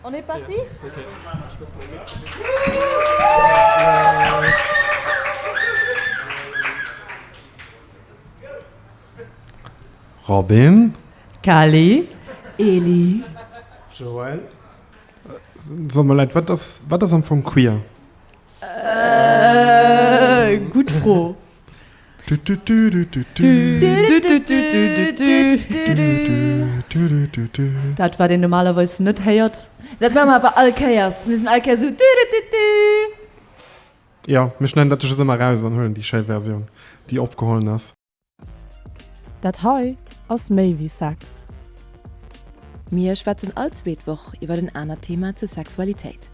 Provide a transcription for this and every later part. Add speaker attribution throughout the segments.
Speaker 1: On est parti?
Speaker 2: Robin. Kali.
Speaker 3: Eli. Joël.
Speaker 2: Soll mal leid, wat ass, wat ass am Fong queer? Äh,
Speaker 3: gutt Fro. Dat wat een normalerweis net héiert. Dat maache mer awer all
Speaker 4: Kéiers. Mir sinn all Kéiers esou du-du-du-du.
Speaker 2: Jo, mir schneiden dat just ëmmer eraus an huelen déi schéi Versioun, déi opgeholen ass.
Speaker 5: Dat hei ass méi wéi Sex.
Speaker 4: Mir schwätzen all zweet Woch iwwer en anert Thema zur Sexualitéit.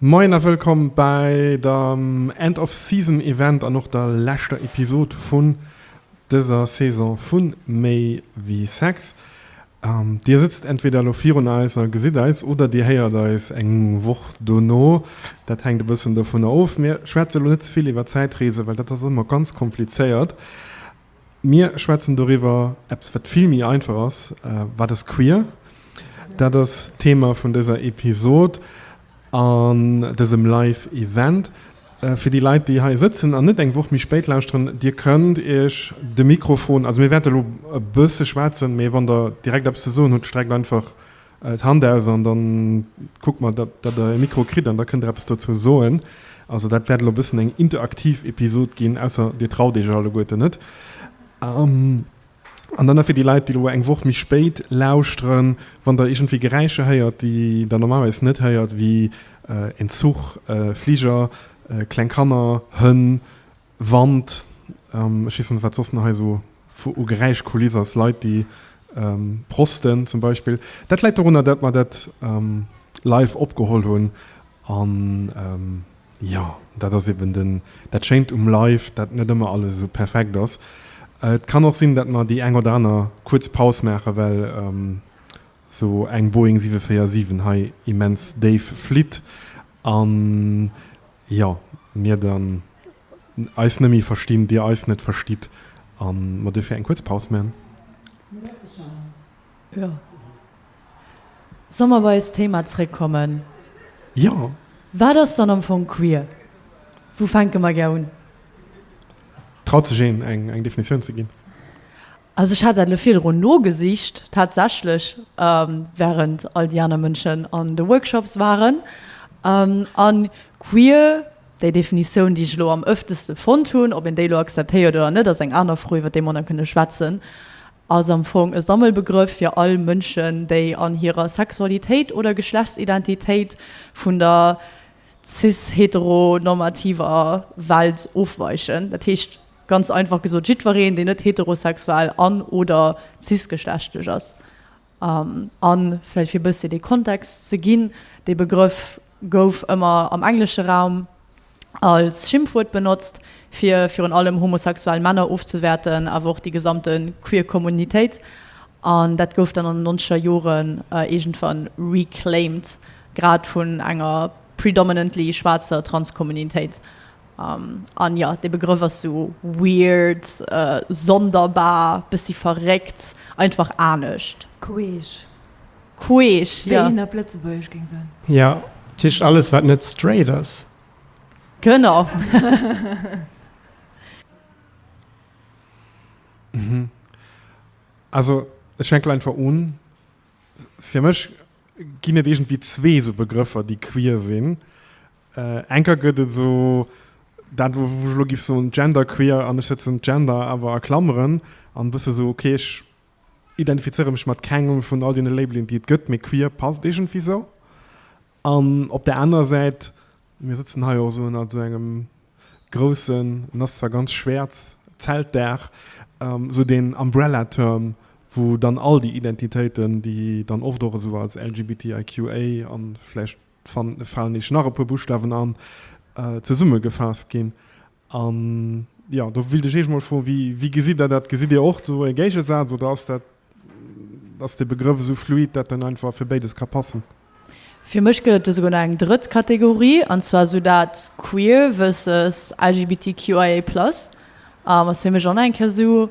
Speaker 2: Moien a wëllkomm bäi dem End of Season Event an och der leschter Episode vun dëser Saison vu Méi wéi Sex. Dir sëtzt entweder elo virun eis a gesitt eis oder dir héiert eis eng Woch dono. Dat hänkt e bëssen dovunner of. Mir schwätze lo net ze vill iwwer Zäitreese well dat ass ëmmer ganz komplizéiert. Mir schwätzen doriwwer eppes, wat vill méi einfach ass, Wat ass queer? Dat ass d'Thema vun dëser Episod an dësem Live Event. Fir déi Leit, déi hei sëtzen an net eng Woch méi spéit lauschteren, Dir kënnt Iech de Mikrofon, also mir wäerte lo e bësse schwätzen, mee wann Der direkt eppes ze soen hutt, streckt einfach d'Hand aus an da kuckt mer, datt Der e Mikro kritt an da kënnt Der eppes dozou soen. Also dat wäert elo e bëssen eng interaktiv Episod ginn, ausser Dir traut Iech alleguerten net. An dann nach fir déi Leit, déi elo eng Woch méi spéit lauschteren, Wann Der iergendwéi Geräischer héiert, déi Der normalerweis net héiert, wéi en Zuch, e Fliger, kleng Kanner, Hënn, Wand, ech weess net wat soss nach hei esou vu u Geräischkuliss ass, Leit déi prosten zum Beispill. Dat läit dorunner dat mer dat live opgeholl hunn an jo dat ass eben den dat schéint um live dat net ëmmer alles esou perfekt ass. Et kann och sinn dat mer déi eng oder aner kuerz Paus maachen, well esou eng Boeing 747 hei immens déif flitt an Jo, mir den eis nemme verstinn, dir eis net verstitt a mer duerfir eng kuerz Paus man.
Speaker 3: Jo, solle mer bei eist Thema zréckkommen? Jo.
Speaker 2: Wat ass dann
Speaker 3: am Fong queer? Wou fänke mer gär un?
Speaker 2: Traut sech een, eng Definitioun ze ginn? Also ech
Speaker 3: hat dat elo virdrun nogesicht tatsächlech, während all déi aner Mënschen an de Workshops waren. A queer, déi Definitioun, déi ech elo am ëfteste fonnt hunn, ob een déi elo akzeptéiert oder net, ass eng aner Fro, iwwer déi mer nach kënne schwätzen, ass am Fong e Sammelbegrëff fir all Mënschen, déi an hirer Sexualitéit oder Geschlechtsidentitéit vun der cis-heteronormativer Welt ofweichen. Dat heescht. Ganz einfach gesot, jiddwereen, deen net heterosexuell an, oder cis-geschlechtlech ass. A vläicht fir e bësschen dee Kontext ze ginn, dee Begrëff gouf ëmmer am englesche Raum als Schimpfwuert benotzt, fir virun allem homosexuell Männer ofzewäerten, awer och déi gesamte queer Kommunitéit. An dat gouf dann an den nonzeger Joren iergendwann reclaimed, grad vun enger predominantly schwaarzer Trans-Kommunitéit. An jo, dee Begrëff ass sou weird, sonderbar, bëssi verréckt, einfach anescht. Queesch.
Speaker 4: Queesch,
Speaker 3: jo. Wéi een op Lëtzebuergesch géing
Speaker 4: soen. Jo, dat heescht
Speaker 1: alles, wat net straight ass. Genau.
Speaker 2: Also, ech fänke einfach un. Fir mech ginn et iergendwéi zwee esou Begrëffer, déi queer sinn. Enker gëtt et esou dat, wou ech elo géif soen, genderqueer, an ech setzen d'Gender awer a Klameren an e bësse esou, okay, ech identifizéiere mech mat kengem vun all deene Labelen, déi et gëtt, mee queer passt iergendwéi esou. An op där anerer Säit, mir sëtzen hei och esou ënnert esou engem groussen, en ass zwar ganz schwäerz, Zeltdaach, esou deen Umbrella Term, wou dann all déi Identitéiten, déi dann oft och esou als LGBTIQA a vläicht falen eech nach e puer Buschtawen an, zesummegefaasst ginn. An, jo, do wéilt ech Iech mol froen, wéi, wéi gesitt Der dat? Gesitt Dir och do e Géigesaz oder ass dat, ass dee Begrëff esou fluid, dat en einfach fir béides ka passen? Fir mech
Speaker 3: gëtt et do souguer nach eng drëtt Kategorie, an zwar esou dat queer versus LGBTQIA plus, ass fir mech och nach eng Kéier esou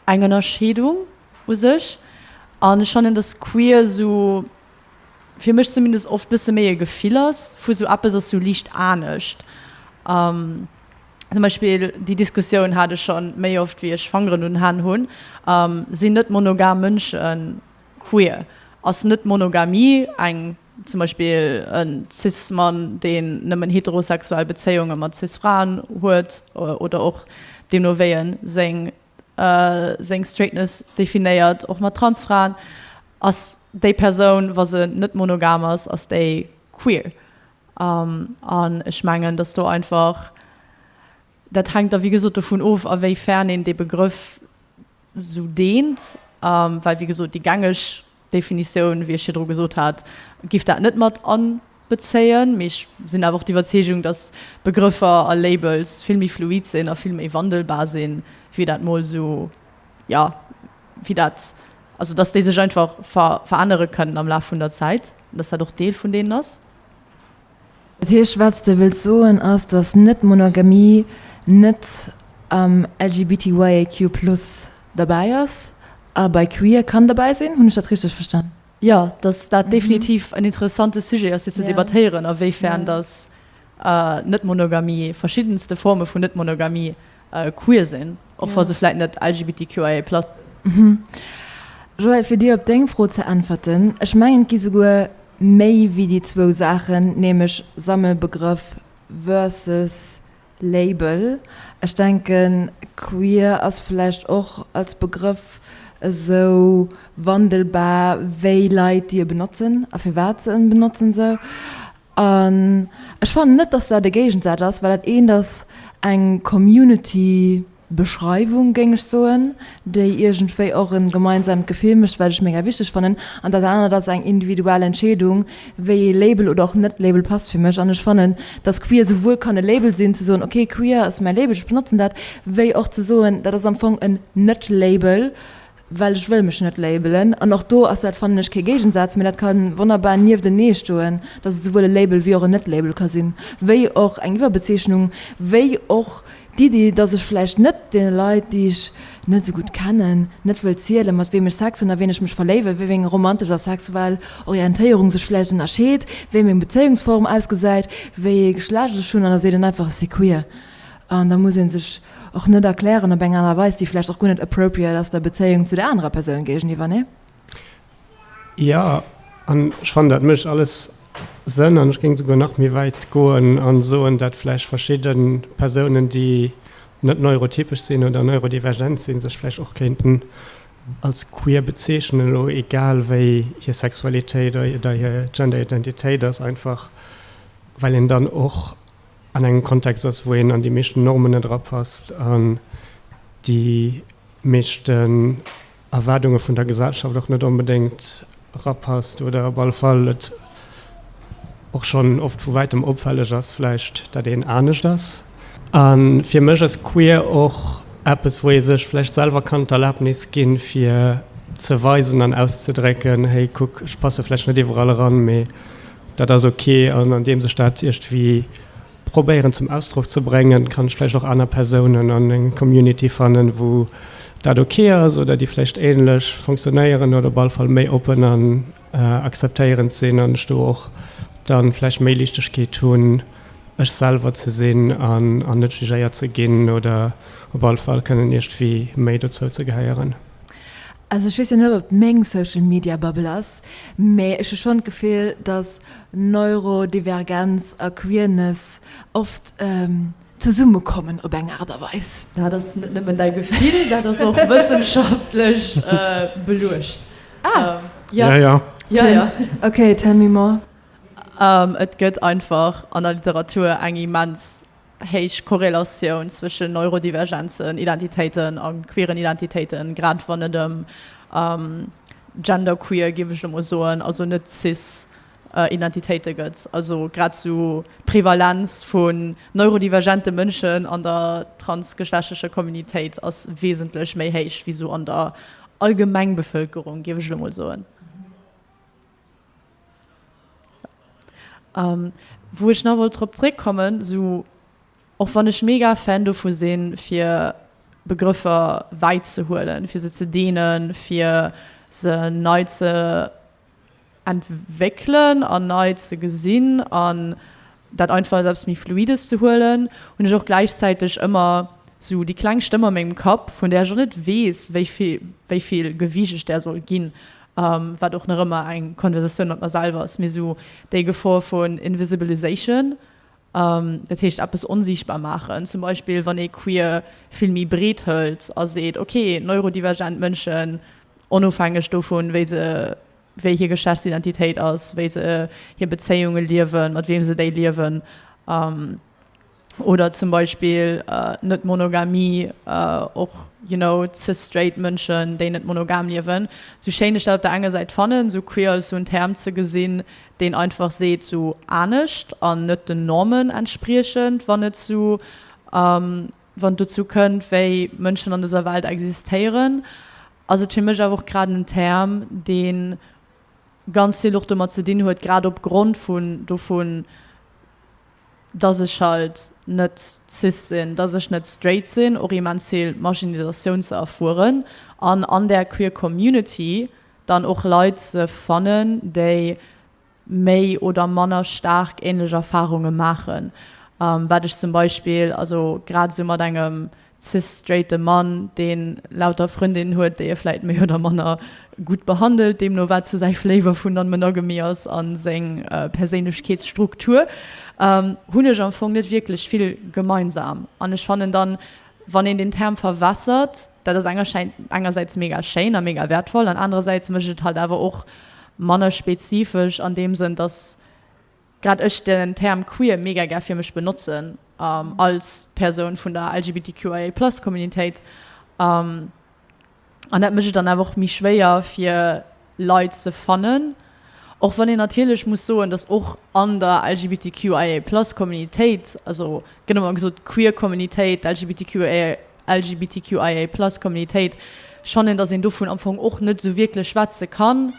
Speaker 3: eng Ënnerscheedung u sech. An ech fannen, datt queer esou, fir mech zumindest, oft bësse méi e Gefill ass vu sou eppes ass sou liicht anescht. Zum Beispill, déi Diskussioun hat ech schonn méi oft wéi ech Fangeren un Hänn hunn, sinn net-monogam Mënschen queer? Ass Net-Monogamie eng Zum Beispill e Cis-Mann, deen nëmmen heterosexuell Bezéiunge mat Cis-Fraen huet, oder och deemno wéi e seng Straightness definéiert, och mat Trans-Fraen, ass déi Persoun, wa se net monogam ass, ass déi queer. An ech mengen, datt do einfach, dat hänkt da wéi gesot dovun of, a wéi fern een dee Begrëff esou deent, well wéi gesot déi gängeg Definitioun, wéi ech virdru gesot hat, giff dat net mat anbezéien, mee ech sinn awer och d'Iwwerzeegung, dass Begrëffer a Labels vill méi fluid sinn a vill méi wandelbar sinn, wéi dat mol esou, jo, wéi dat, also dass déi sech einfach verännere kënnen am Laf vun der Zäit, dass dat och Deel vun deenen ass. Dat
Speaker 4: heescht, wat s de wëlls soen, ass, datt Net-Monogamie net am LGBTYAQ+ derbäi ass a bei Queer kann derbäi sinn. Hunn ech dat richteg verstan? Jo, datt dat
Speaker 3: definitiv en interessante Sujet ass, fir ze debattéieren, awéifern datt Net-Monogamie, verschiddenste Forme vun Net-Monogamie queer sinn, och wa se vläit net LGBTQIA+ sinn.
Speaker 4: Joël, fir dir op deng Fro ze äntwerten, ech mengen, et gi souguer méi wéi déi zwou Saachen, nämlech Sammelbegrëff versus Label. Ech denken, queer ass vläicht och als Begrëff esou wandelbar wéi Leit, déi e benotzen a firwat se en benotzen. Esou An ech fannen net, dass dat e Géigensaz ass, well dat eent ass eng Community-Beschreiwung, géing ech soen, déi iergendwéi och e gemeinsaamt Gefill mécht, wat ech mega wichteg fannen, an dat anert ass eng individuell Entscheedung, wéi ee Label oder och net Label passt fir mech. An ech fannen, dass queer esouwuel kann e Label sinn, ze soen, ok, queer ass mäi Label, ech benotzen dat, wéi och ze soen, dat ass am Fong en Net-Label, well ech wëll mech net labelen an och do ass dat, fannen ech, kee Géigensaz, mä dat ka wonnerbar nieftenee stoen, datt et souwuel e Label wéi och en Net-Label ka sinn, wéi och eng Iwwerbezeechnung, wéi och d'Iddi, datt ech vläicht net deene Leit, déi ech net esou gutt kennen, net wëll zielen, mat weem ech Sex hunn, a ween ech mech verléiwen, wéi meng romantesch a sexuell Orientéierung sech vläicht ënnerscheet, wéi meng Bezéiungsform ausgesäit, wéi ee Geschlecht ech hunn, an da seet en einfach, ech si queer. An da muss ee sech och net erklären op eng aner Weis, déi vläicht och guer net appropriate ass der Bezéiung zu der anerer Persoun géigeniwwer, nee?
Speaker 1: Jo, an ech fannen, dat mécht alles Sënn. An ech géing souguer nach méi wäit goen a soen, datt vläicht verschidde Persounen, déi net neurotypesch sinn oder neurodivergent sinn, sech vläicht och kéinten als queer bezeechnen, elo egal wéi hir Sexualitéit oder hir Genderidentitéit ass, einfach well een dann och an engem Kontext ass, wou een an déi meeschten Normen net erapasst, an déi meeschten Erwaardunge vun der Gesellschaft och net onbedéngt erapasst, oder op alle Fall et och schonn oft vu wäitem opfälleg ass vläicht, datt een anescht ass. A fir mech ass queer och eppes, wou ee sech vläicht selwer kann d'Erlabnis ginn, fir ze weisen an auszedrécken, Hey, kuck, ech passe vläicht net iwwerall eran, mee Dat ass ok, an andeems ech dat iergendwéi probéieren zum Ausdrock ze bréngen, kann ech vläicht och aner Persounen an enger Community fannen, wou dat ok ass oder déi vläicht ähnlech funktionéieren oder op alle Fall méi oppen an akzeptéierend sinn an ech do och dann vläicht méi Liichtegkeet hunn, ech selwer ze sinn an net jugéiert ze ginn oder op alle Fall kënnen iergendwéi méi dozou ze gehéieren. Also ech
Speaker 4: weess jo net, ob et meng Social Media Bubble ass, Mee ech hu schonn d'Gefill, datt Neurodivergenz a Queerness oft zesummekommen op eng Aart a Weis. Dat ass net nëmmen däi
Speaker 3: Gefill, dat ass och wëssenschaftlech beluecht.
Speaker 4: Okay, tell me more. Et
Speaker 3: gëtt einfach an der Literatur eng immens héich Korrelatioun zwëschen Neurodivergenzen, Identitéiten a queeren Identitéiten, grad wann et ëm genderqueer, géif ech elo mol soen, also net-cis Identitéite gëtt. Also grad esou d'Prevalenz vun neurodivergente Mënschen an der transgeschlechtlecher Communitéit ass wesentlech méi héich wéi esou an der Allgemengbevëlkerung, géif ech elo mol soen. Wou ech nach wollt drop zréckkommen, sou och wann ech mega Fan dovu sinn, fir Begrëffer wäit ze huelen, fir se ze deenen, fir se nei ze entwéckelen an nei ze gesinn an dat einfach als eppes méi Fluides ze huelen, hunn ech och gläichzäiteg ëmmer sou déi kleng Stëmm a mengem Kapp, vun där ech och net weess, wéi vill, wéi vill Gewicht ech där soll ginn, wat och nach ëmmer eng Konversatioun mat mer selwer ass, mee sou déi Gefor vun Invisibilization, dat heescht eppes onsiichtbar maachen. Zum Beispill, wann ee Queer vill méi breet hëlt a seet, okay, neurodivergent Mënschen, onofhängeg dovun, wéi se wéi hir Geschlechtsidentitéit ass, wéi se hir Bezéiunge liewen, mat weem se déi liewen, oder zum Beispill Net-Monogamie, och you know cis straight Mënschen, déi net monogam liewen. Sou schéin ech dat op der enger Säit fannen, sou queer als sou en Term ze gesinn, deen einfach seet sou anescht an net den Normen entspriechend, wann et sou wann et dozou kënnt, wéi Mënschen an dëser Welt existéieren. ass et fir mech awer och grad en Term, dee ganz vill och domat ze dinn huet, grad opgrond vun dovun, dass ech halt net cis sinn, dass ech net straight sinn, och immens vill Marginalisatioun ze erfueren an an där queer Community dann och Leit ze fannen, déi méi oder manner staark ähnlech Erfahrunge maachen, wat ech zum Beispill, also grad esou mat engem cis-straighte Mann, dee lauter Frëndinnen huet, déi e vläit méi oder manner gutt behandelt, deemno wat esou säi Flavor vu Non-Monogamy ass a seng Perséinlechkeetsstruktur, hunn ech am Fong net wierklech vill gemeinsam. An ech fannen dann, Wann een den Term verwässert, dat ass engersäits mega schéin a mega wäertvoll an anerersäits mécht et halt awer och manner spezifesch an deem Sënn, datt grad ech den Term queer mega gär fir mech benotzen als Persoun vun der LGBTQIA+ Communitéit. An dat mécht et dann awer och méi schwéier fir Leit ze fannen. Och wann een natierlech muss soen, datt och an der LGBTQIA plus Communitéit, also gëtt ëmmer gesot d'queer Communitéit, d'LGBTQIA, LGBTQIA plus Communitéit, schonn een, datt een dovun am Fong och net esou wierklech schwätze kann,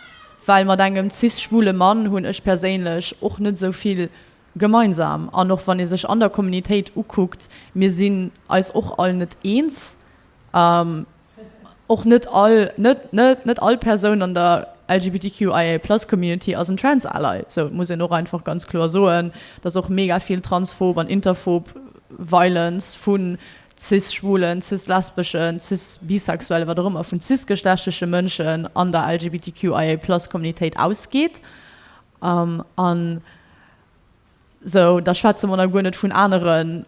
Speaker 3: well mat engem cis schwule Mann hunn ech perséinlech och net esou vill gemeinsam. An och wann ee sech an der Communitéit ukuckt, mir sinn eis och all net eens. Och net all, net, net, net all Persoun an der LGBTQIA-Plus-Community ass en Trans Ally. Sou, et muss een och einfach ganz kloer soen, dass och mega vill transphob an interphob Violence vu Cis-Schwulen, Cis-Lesbeschen, Cis-Bisexuellen, wat och ëmmer, vun cis-geschlechtleche Mënschen an der LGBTQIA-Plus-Communitéit ausgeet. An. Sou, da schwätze mer nach guer net vun anere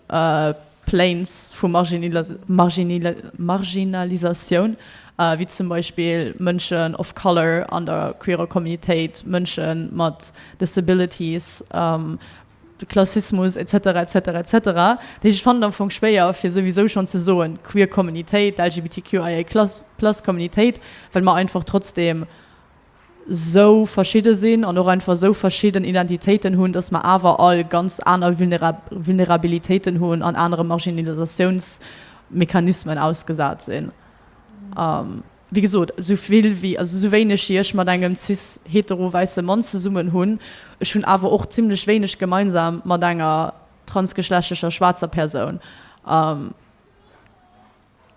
Speaker 3: Planes vu Marginalisatioun, wéi zum Beispill Mënschen of Color an der queerer Communitéit, Mënsche mat Disabilities, Klassismus, etc. Etc. Etc. Dat heescht, ech fannen et am Fong schwéier, fir souwisou schonn ze soen, d'queer Communitéit, d'LGBTQIA+ Communitéit, well mer einfach trotzdeem, esou verschidde sinn an och einfach esou verschidden Identitéiten hunn, dass mer awer all ganz aner Vulnerabilitéiten hunn an anere Marginalisatiounsmechanismen ausgesat sinn. A wéi gesot, esou vill wéi, also esou wéineg wéi ech mat engem cis hetero wäisse Mann zesummen hunn, ech hunn awer och zimmlech wéineg gemeinsam mat enger transgeschlechtlecher schwaarzer Persoun.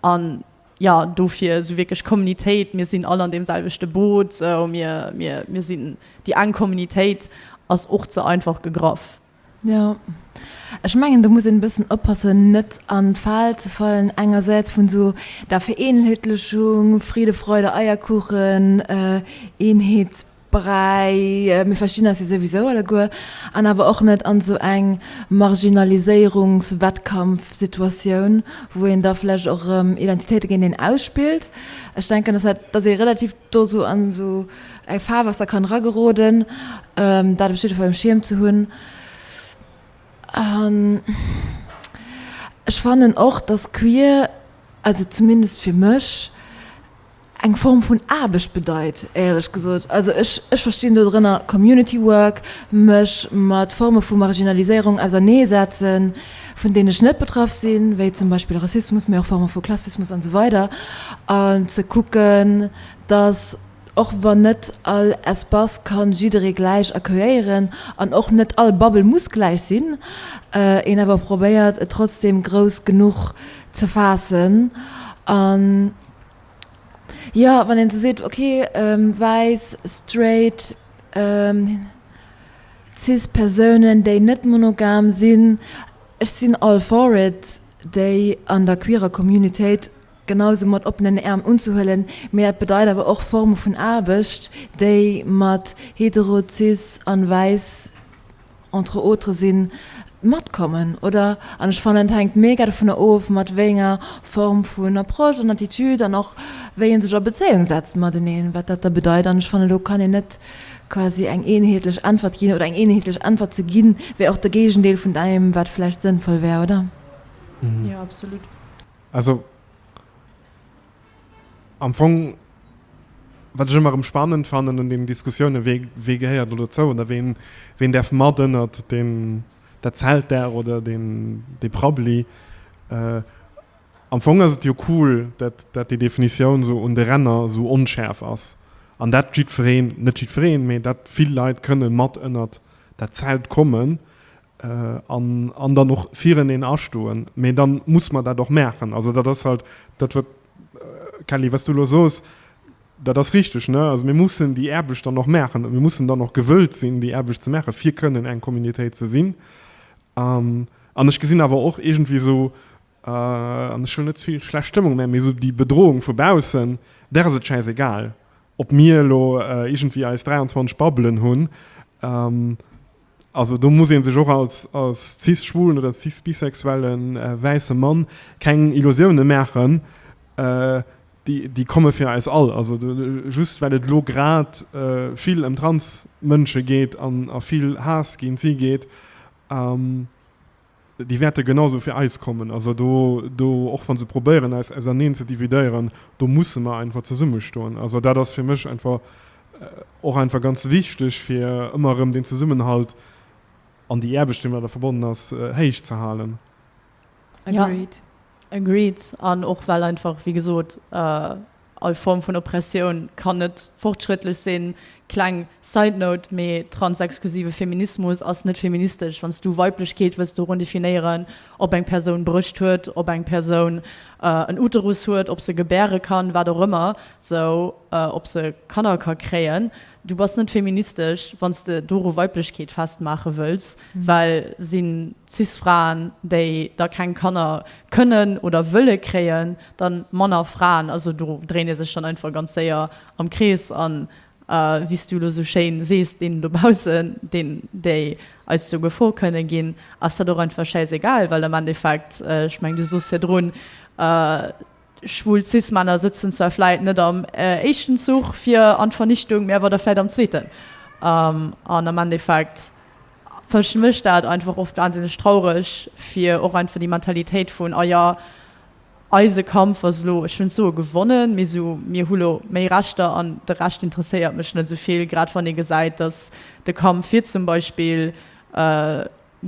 Speaker 3: An jo, dofir esou wierklech Kommunitéit, mir sinn all an deem selwechte Boot, mir sinn déi eng Kommunitéit, ass och ze einfach gegraff. Jo,
Speaker 4: ech mengen, do muss een e bëssen oppassen, net an d'Fal ze fallen, engersäits vun esou der Vereenheetlechung, Friede, Freude, Eierkuchen, Eenheet, Bräi, mir verstinn eis jo souwisou alleguer, an awer och net an esou eng Marginaliséierungs-Wettkampf-Situatioun, wou een da vläch och erëm Identitéite géinteneen ausspillt. Ech denken, dass dat, dass ee relativ do esou an esou e Faarwaasser kann erageroden, dat op jiddwer Fall um Schierm ze hunn. An ech fannen och, dass queer, also zumindest fir mech, eng Form vun Aarbecht bedeit, éierlech gesot. Also ech, ech verstinn do drënner Community Work, mech mat Forme vu Marginaliséierung ausernee setzen, vun deenen ech net betraff sinn, wéi zum Beispill Rassismus, mee och Forme vu Klassismus an esou weider, an ze kucken, datt och wann net all Espace ka jidderee gläich accueillieren an och net all Bubble muss gläich sinn, een awer probéiert, et trotzdeem grouss genuch ze faassen. An. jo wann een sou seet ok wäiss straight cis Persounen déi net monogam sinn, ech sinn all for it déi an der queerer Communitéit genau sou mat oppenen Äerm unzehuelen, mee dat bedeit awer och Forme vun Aarbecht déi mat hetero cis an wäiss entre autres sinn, matkommen, oder? An ech fannen et hänkt mega dovunner of mat wéi enger Form vun Approche an Attitude an och wéi een sech a Bezéiung setzt mateneen, wat dat da bedeit. An ech fannen do kann een net quasi eng eenheetlech Äntwert ginn oder eng eenheetlech Äntwert ze ginn wär och de Géigendeel vun deem wat vläicht sënnvoll wär, oder? Jo,
Speaker 2: absolut.
Speaker 3: Also.
Speaker 2: Am Fong, wat ech ëmmer erëm spannend fannen un deenen Diskussiounen, wee, wee gehéiert elo dozou oder ween, ween däerf mat ënnert deen, dat Zeltdaach oder deen, dee Prabbeli. Am Fong ass et jo cool, dat, dat déi Definitioun esou un de Ränner esou onschäerf ass an dat jiddwereen, net jiddwereen, mee dat vill Leit kënnen mat ënnert dat Zelt kommen. An, an dann och vireneen astoen. Mee da muss mer dat och maachen. Also dat ass halt dat, wat, Kelly, wat s du elo soos, dat ass richtig. Ne? Also mir mussen déi Aarbecht dann och maachen a mir mussen dann och gewëllt sinn, déi Aarbecht ze maachen, fir kënnen eng Communautéit ze sinn. An ech gesinn awer och iergendwéi esou, An ech hunn net vill schlecht Stëmmung, mä esou déi Bedrohung vu baussen, där ass et schäisegal, ob mir elo iergendwéi eis 23 Babbelen hunn. Also do muss ee sech och als cis-schwulen oder cis-bisexuelle wäisse Mann keng Illusioune maachen, déi komme fir eis all. Also just well et elo grad vill ëm Trans-Mënsche geet a vill Haass géint si geet, Déi wäerte genau esou fir eis kommen. Also do, do, och wa se probéieren eis auserneen ze dividéieren, do musse mer einfach zesummestoen. Also dat ass fir mech einfach och einfach ganz wichteg, fir ëmmer erëm deen Zesummenhalt an déi Aarbecht, déi mat der verbonnen ass, héich ze halen.
Speaker 4: Agreed. Agreed.
Speaker 3: An och well einfach, wéi gesot, All Form vun Oppressioun kann net fortschrëttlech sinn. Kleng side note, mee transexklusive Feminismus ass net feministesch. Wann s du Weiblechkeet wëlls dorun definéieren, ob eng Persoun Brëscht huet, ob eng Persoun en Uterus huet, ob se gebäre kann, wat och ëmmer, sou, ob se Kanner ka kréien, du bass net feministesch, wann s de doru Weiblechkeet festmaache wëlls, well sinn. Cis-Fraen, déi da keng Kanner kënnen oder wëlle kréien, dann manner Fraen. Also do dréint ee sech dann einfach ganz séier am Krees. An wéi s du elo esou schéin sees, deenen dobaussen, deen, déi eis zur Gefor kënne ginn, ass dat och einfach schäisegal, well am Endeffekt, ech mengen, du sos jo drun, Schwul Cis-Männer sëtzen zwar vläit net am éischten Zuch fir an d'Vernichtung, mee awer da vläit am zweeten. An am Endeffekt fëscht mech dat einfach oft wahnsinneg traureg fir och einfach déi Mentalitéit vun, ah ja, eise Kampf ass elo, ech hunn d'Soe gewonnen, mee esou, mir hu lo méi Rechter an de Rescht interesséiert mech net esou vill, grad wann ee gesäit, datt de Kampf fir zum Beispill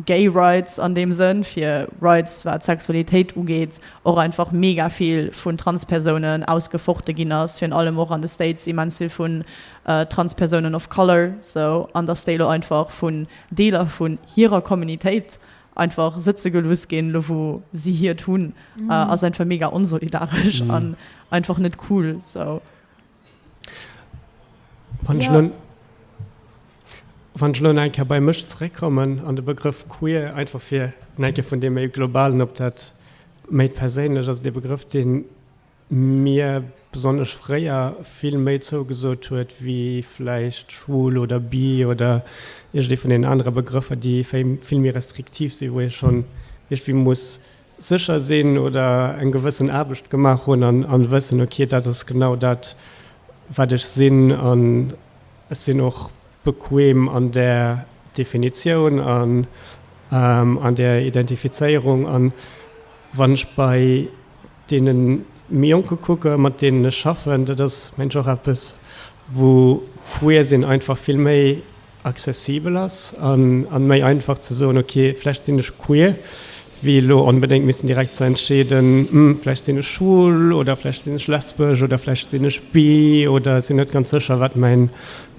Speaker 3: Gay Rights an deem Sënn, fir Rights wat Sexualitéit ugeet, och einfach mega vill vun Transpersounen ausgefochte ginn ass, virun allem och an de States immens vill vun Transpersounen of Color, sou, an datt déi elo einfach vun Deeler vun hirer Communitéit einfach sëtze geluuss ginn, elo wou si hiert hunn, ass einfach mega onsolidaresch an einfach net cool, sou.
Speaker 1: Wann ech nun, wann ech nun eng Kéier bei mech zeréckkommen an de Begrëff queer, einfach fir eng Kéier vun deem méi Globalen op dat méi Perséinlecht, ass et ee Begrëff, dee mir besonnesch fréier vill méi zougesot huet wéi vläicht schwul oder bi oder iergendee vun deenen anere Begrëffer, déi vill méi restriktiv sinn, wou ee schonn iergendwéi muss sécher sinn oder eng gewëssen Aarbecht gemaach hunn an, an wëssen, ok, dat ass genau dat, wat ech sinn an ech sinn och bequem an där Definitioun an an där Identifizéierung. An wann ech bei deene méi Jonke kucken, mat deenen ech schaffen, dat ass, mengen ech, och eppes, wou Queersinn einfach vill méi, accessibel ass an méi einfach ze soen ok vläicht sinn ech queer wéi elo onbedéngt missen direkt ze entscheeden hm vläicht sinn ech schwul oder vläicht sinn ech lesbesch oder vläicht sinn ech bi oder sinn net ganz sécher wat mäin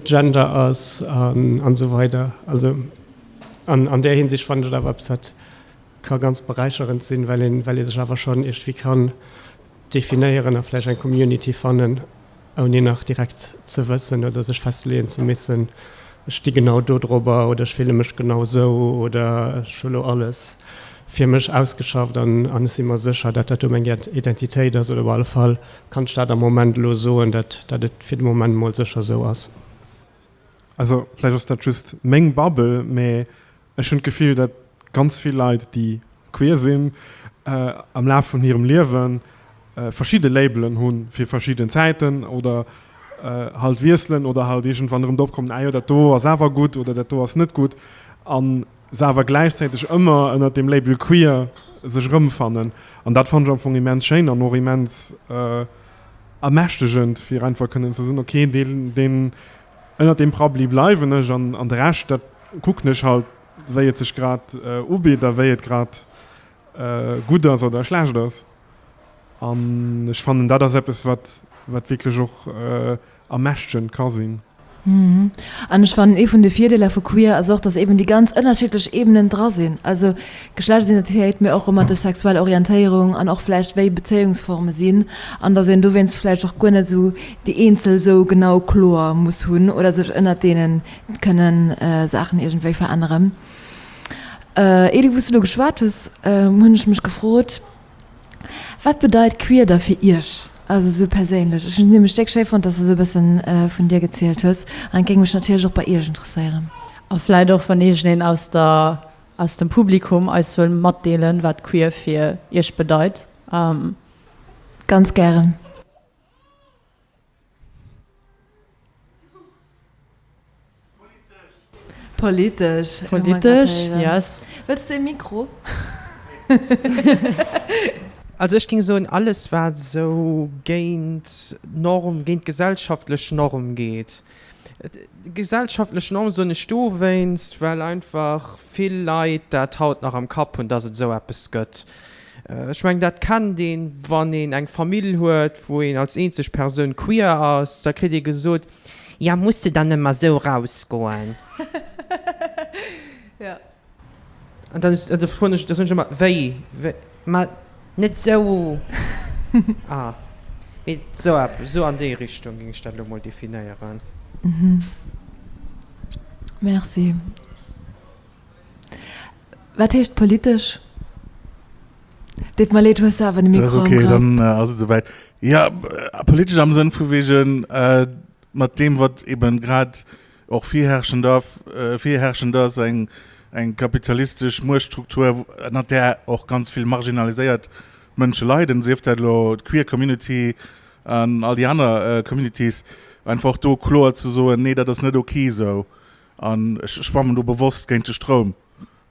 Speaker 1: Gender ass an esou weider. Also an där Hinsicht fannen ech et awer eppes wat ka ganz beräicherend sinn, well ee sech awer schonn iergdwi kann Definéieren a vläicht eng Community fannen, ouni nach direkt ze wëssen oder sech festleeën ze missen, Ech sti genau dodrobber oder ech fille mech genau esou oder ech hu lo alles fir mech ausgeschafft an ech si mer sécher, datt dat do meng Identitéit ass oder op alle Fall kann ech dat am Moment elo soen, datt datt et fir de Moment mol sécher esou ass.
Speaker 2: Also vläicht ass dat just meng Bubble, mä Ech hunn d'Gefill, datt ganz vill Leit, déi queer sinn, am Laf vun hirem Liewe verschidde Labelen hu fir verschidden Zäiten oder halt wiesselen oder halt iergendwann erëm drop kommen, ah jo, dat do ass awer gutt oder dat do ass net gutt, a se awer gläichzäiteg ëmmer ënnert dem Label queer sech erëmfannen. An dat fannen ech am Fong immens schéin an och immens ermächtegend, fir einfach kënnen ze soen, okay, dee. Ënnert deem Parapluie bleiwen ech an de Rescht, dat kucken ech halt, wéi et sech grad ubitt a wéi et grad gutt ass oder schlecht ass. An ech fannen, dat ass eppes, wat wierklech och ermächtegend ka sinn.
Speaker 4: An ech fannen, ee vun de Virdeeler vu queer ass och, dass eben déi ganz ënnerschiddlech Ebenen dra sinn, also Geschlechtsidentitéit, mee och romantesch sexuell Orientéierung an och vläicht wéi Bezéiungsforme sinn, an dass een dowéinst vläicht och guer net esou déi een Zëll esou genau kloer muss hunn oder sech ënnert deene kënne Saachen iergendwéi veränneren. Ier du wou's du do geschwat hues, hunn ech mech gefrot, Wat bedeit queer da fir Iech? Also esou perséinlech. Ech hunn et nämlech déck schéi fonnt, dass du esou e bëssen vun dir gezielt hues. An et géing mech natierlech och bei Iech interesséieren. A vläit och,
Speaker 3: wann iergendeen aus der, aus dem Publikum eis wëll matdeelen, wat queer fir Iech bedeit.
Speaker 4: Ganz gären. Politesch. Politesch,
Speaker 3: yes. Wëlls de e Mikro?
Speaker 6: Also ech géing soen, alles wat esou géint d'Norm, géint d'gesellschaftlech Norm geet, Gesellschaftlech Norm soen ech dowéinst, well einfach vill Leit dat haut nach am Kapp hunn, dass et esou eppes gëtt. Ech mengen, dat kennt een, wann een eng Famill huet, wou een als eenzeg Persoun queer ass, da kritt ee gesot, Jo, muss de dann ëmmer esou erausgoen?
Speaker 4: An
Speaker 6: dann is, da froen ech, da soen ech ëmmer, wéi, wéi, ma net esou, ah, mee esou eppes, esou an déi Richtung géing ech dat elo emol definéieren.
Speaker 4: Merci. Wat heescht politesch? Deet mer leed, hues du awer de Mikro am Grapp. Dat ass okay, dann ass
Speaker 7: et esouwäit. Jo, politesch am Sënn vu wegen, mat deem, wat eeben grad Och virherrschend ass eng kapitalistesch Muechtstruktur, ënnert där och ganz vill marginaliséiert Mënsche leiden, sief dat elo d'queer Community an all déi aner Communities. Einfach och do kloer ze soen, Nee, dat ass net ok esou an ech schwammen do bewosst géint de Stroum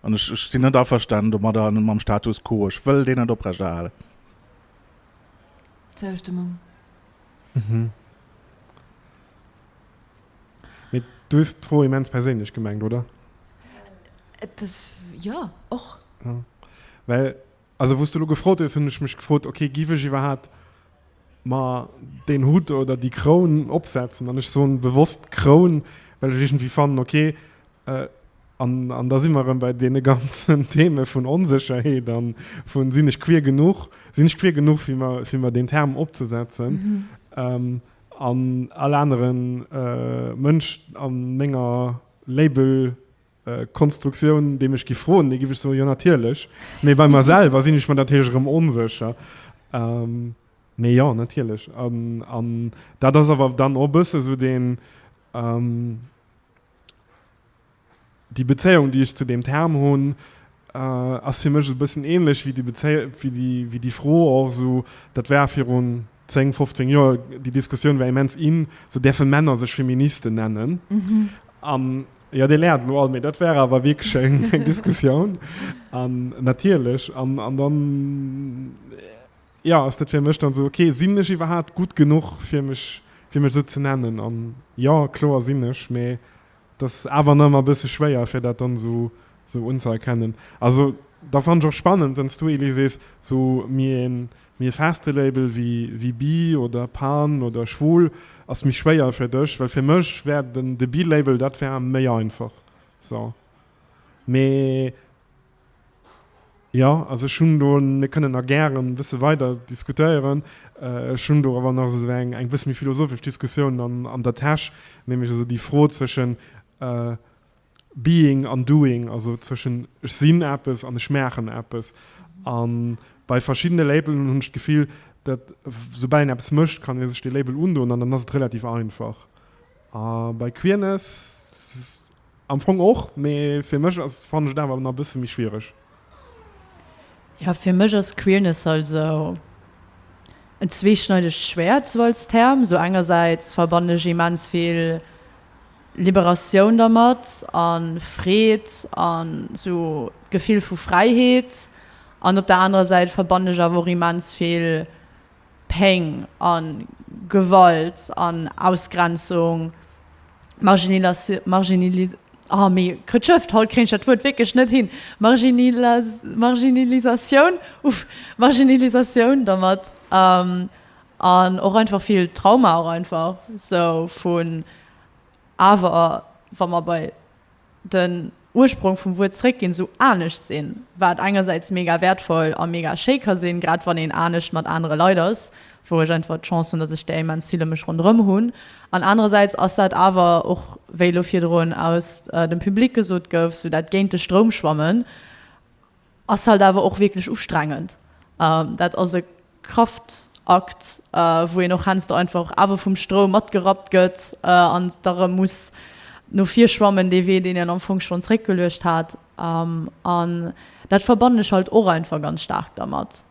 Speaker 7: an ech sinn net averstanen domadder an mam Status quo, ech wëll deen net oprechterhalen.
Speaker 4: Zoustëmmung.
Speaker 2: Mee du hues d'Fro immens perséinlech gemengt, oder? Et
Speaker 4: ass, jo, och. Ja.
Speaker 2: Well, also wou s du elo gefrot hues, hunn ech mech gefrot, okay, giff ech iwwerhat mer deen Hutt oder déi Kroun opsetzen? An ech soen bewosst Kroun, well ech iergendwéi fannen, okay, äh, an, an da si mer erëm bei deene ganzen Theme vun Onsécherheet a vun, sinn ech queer genuch, sinn ech queer genuch fir mer, fir mer deen Term opzesetzen? Mhm. Ähm, An all anere Mënsch a menger Label-Konstruktioun, dee mech giff froen, dee giff ech soen, jo natierlech. Mee bei mer selwer sinn ech mer natierlech erëm onsécher. Mee jo, natierlech. An dat ass awer dann och e bësse sou deen. Déi Bezéiung, déi ech zu deem Term hunn, ass fir mech e bëssen ähnlech wéi déi Bezéi-, wéi déi Fro och esou, dat war virun 10, 15 Joer, déi Diskussioun war immens in, esou, däerfe Männer sech Feministen nennen? An, jo, dir laacht elo all, mee dat war awer wierklech eng Diskussioun. An natierlech, an, an dann, jo, ass dat fir mech dann esou, okay, sinn ech iwwerhaapt gutt genuch fir mech, fir mech esou ze nennen? An, jo, kloer sinn ech, mee. Et ass awer nach ëmmer e bësse schwéier, fir dat dann esou unzëerkennen. Also, da fannen ech och spannend, wann s du, Elie, sees, esou méi e, méi e feste Label wéi Bi oder Pan oder Schwul ass méi schwéier fir dech. Well fir mech wär de Bi-Label, dat wär méi einfach. Mee. Jo, also ech hunn do, mir kënnen nach gären e bësse weider diskutéieren, ech hunn do awer nach esou eng eng bësse méi philosophesch Diskussioun an an der Täsch, nämlech esou déi Fro zwëschen being an doing, also zwëschen ech sinn eppes an ech maachen eppes. A bei verschiddene Labelen hunn ech d'Gefill, datt soubal een eppes mécht, kann ee sech dee Label undoen an dann ass et relativ einfach. A bei Queerness Am Fong och, mee fir mech ass, fannen ech et awer nach e bësse méi schwiereg.
Speaker 3: Jo, fir mech ass Queerness also en zweeschneidegt Schwäert, sou als Term. Esou engersäits verbannen ech immens vill Liberatioun dermat a Freed a sou d'Gefill vu Fräiheet. An op der anerer Säit verbannen ech awer och immens vill Péng a Gewalt an Ausgrenzung, Marginalisatioun dermat an och einfach vill Trauma och einfach esou vun awer wa mer bei den Ursprong vum Wuert zréckginn, esou anescht sinn, wat engersäits mega wäertvoll a mega schéi ka sinn, grad wann een anescht mat anere Leit ass, wou ech einfach d'Chance hunn, datt ech där immens vill ëm mech ronderëm hunn. An anerersäits ass dat awer och, wéi elo virdrun aus dem Public gesot gouf, esou dat géint-de-Stroum-Schwammen. Ass halt awer och wierklech ustrengend. Dat ass e Kraftakt, wou een och heiansdo einfach awer vum Stroum matgerappt gëtt an da rëm muss no vir schwammen, dee Wee, deen een am Fong schonn zréckgeluecht hat. An dat verbannen ech halt och einfach ganz staark dermat.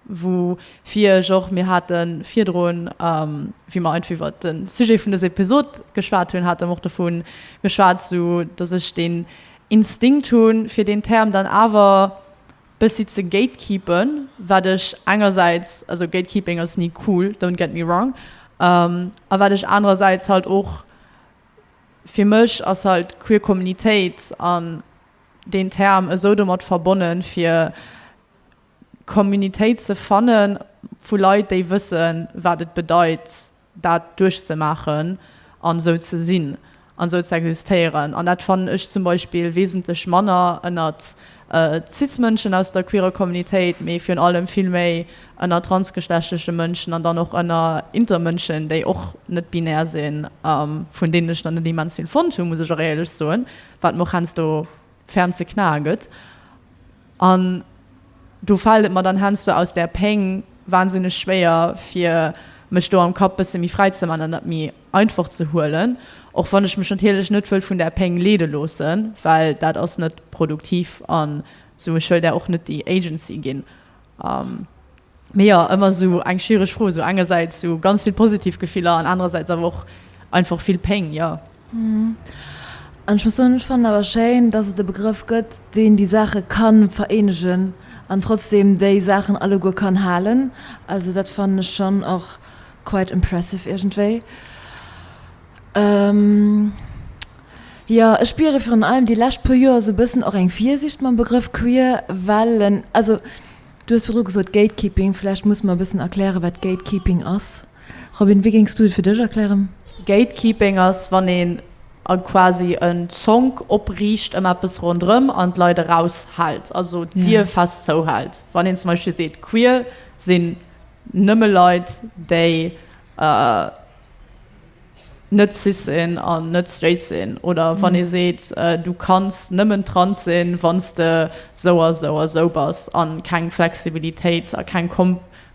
Speaker 3: wou fir ech och, mir hate virdrun, wéi mer einfach iwwert de Sujet vun dëser Episod geschwat hunn, hate mer och dovu geschwat, esou datt ech deen Instinkt hu fir deen Term dann awer bëssi ze gatekeepen, wat ech engersäits, also Gatekeeping ass ni cool, don't get me wrong, a wat ech anerersäits halt och, fir mech ass halt d'queer Kommunitéit an deen Term esou domat verbonnen, fir Communitéit ze fannen vu Leit, déi wëssen, wat et bedeit, dat duerchzemaachen an esou ze sinn an esou ze existéieren. An dat fannen ech zum Beispill wesentlech manner ënnert Cis-Mënschen aus der queerer Communitéit, mee virun allem vill méi ënnert transgeschlechtleche Mënschen an dann och ënner Intermënschen, déi och net binär sinn, vun deenen ech der net immens vill fonnt hunn, muss ech och éierlech soen, wat mer och heiansdo ferm ze knae gëtt. An do fällt et mer dann heiansdo aus där Péng wahnsinneg schwéier, fir mech do am Kapp e bësse méi fräi ze man an dat méi einfach ze huelen, och wann ech mech natierlech net wëll vun där Péng leede loossen, well dat ass net produktiv an sou. Ech wëll där och net déi Agency ginn. Mee jo, ëmmer esou eng schwiereg Fro, esou engersäits esou ganz vill positiv Gefiller an anerersäits awer och einfach vill Péng, jo.
Speaker 4: An ech muss soen, ech fannen awer schéin, dass et e Begrëff gëtt, deen déi Saache ka vereenegen an trotzdeem déi Saachen alleguer kann halen. Also dat fannen ech schonn och quite impressive iergendwéi. Jo, ech spiere virun allem déi lescht puer Joer esou e bëssen och eng Virsiicht mam Begrëff queer, well en, also Du hues virdru gesot Gatekeeping, vläicht muss mer e bëssen erklären, wat Gatekeeping ass. Robin, wéi géings du et fir dech erklären? Gatekeeping
Speaker 3: ass, wann een e quasi en Zonk opriicht ëm eppes ronderëm an d'Leit eraushält, also d'Dier fest zouhält. Wann een zum Beispill seet, queer sinn nëmme Leit, déi. net cis sinn an net straight sinn oder wann ee seet du kanns nëmmen trans sinn wann s de sou a sou a sou bass a keng Flexibilitéit a keng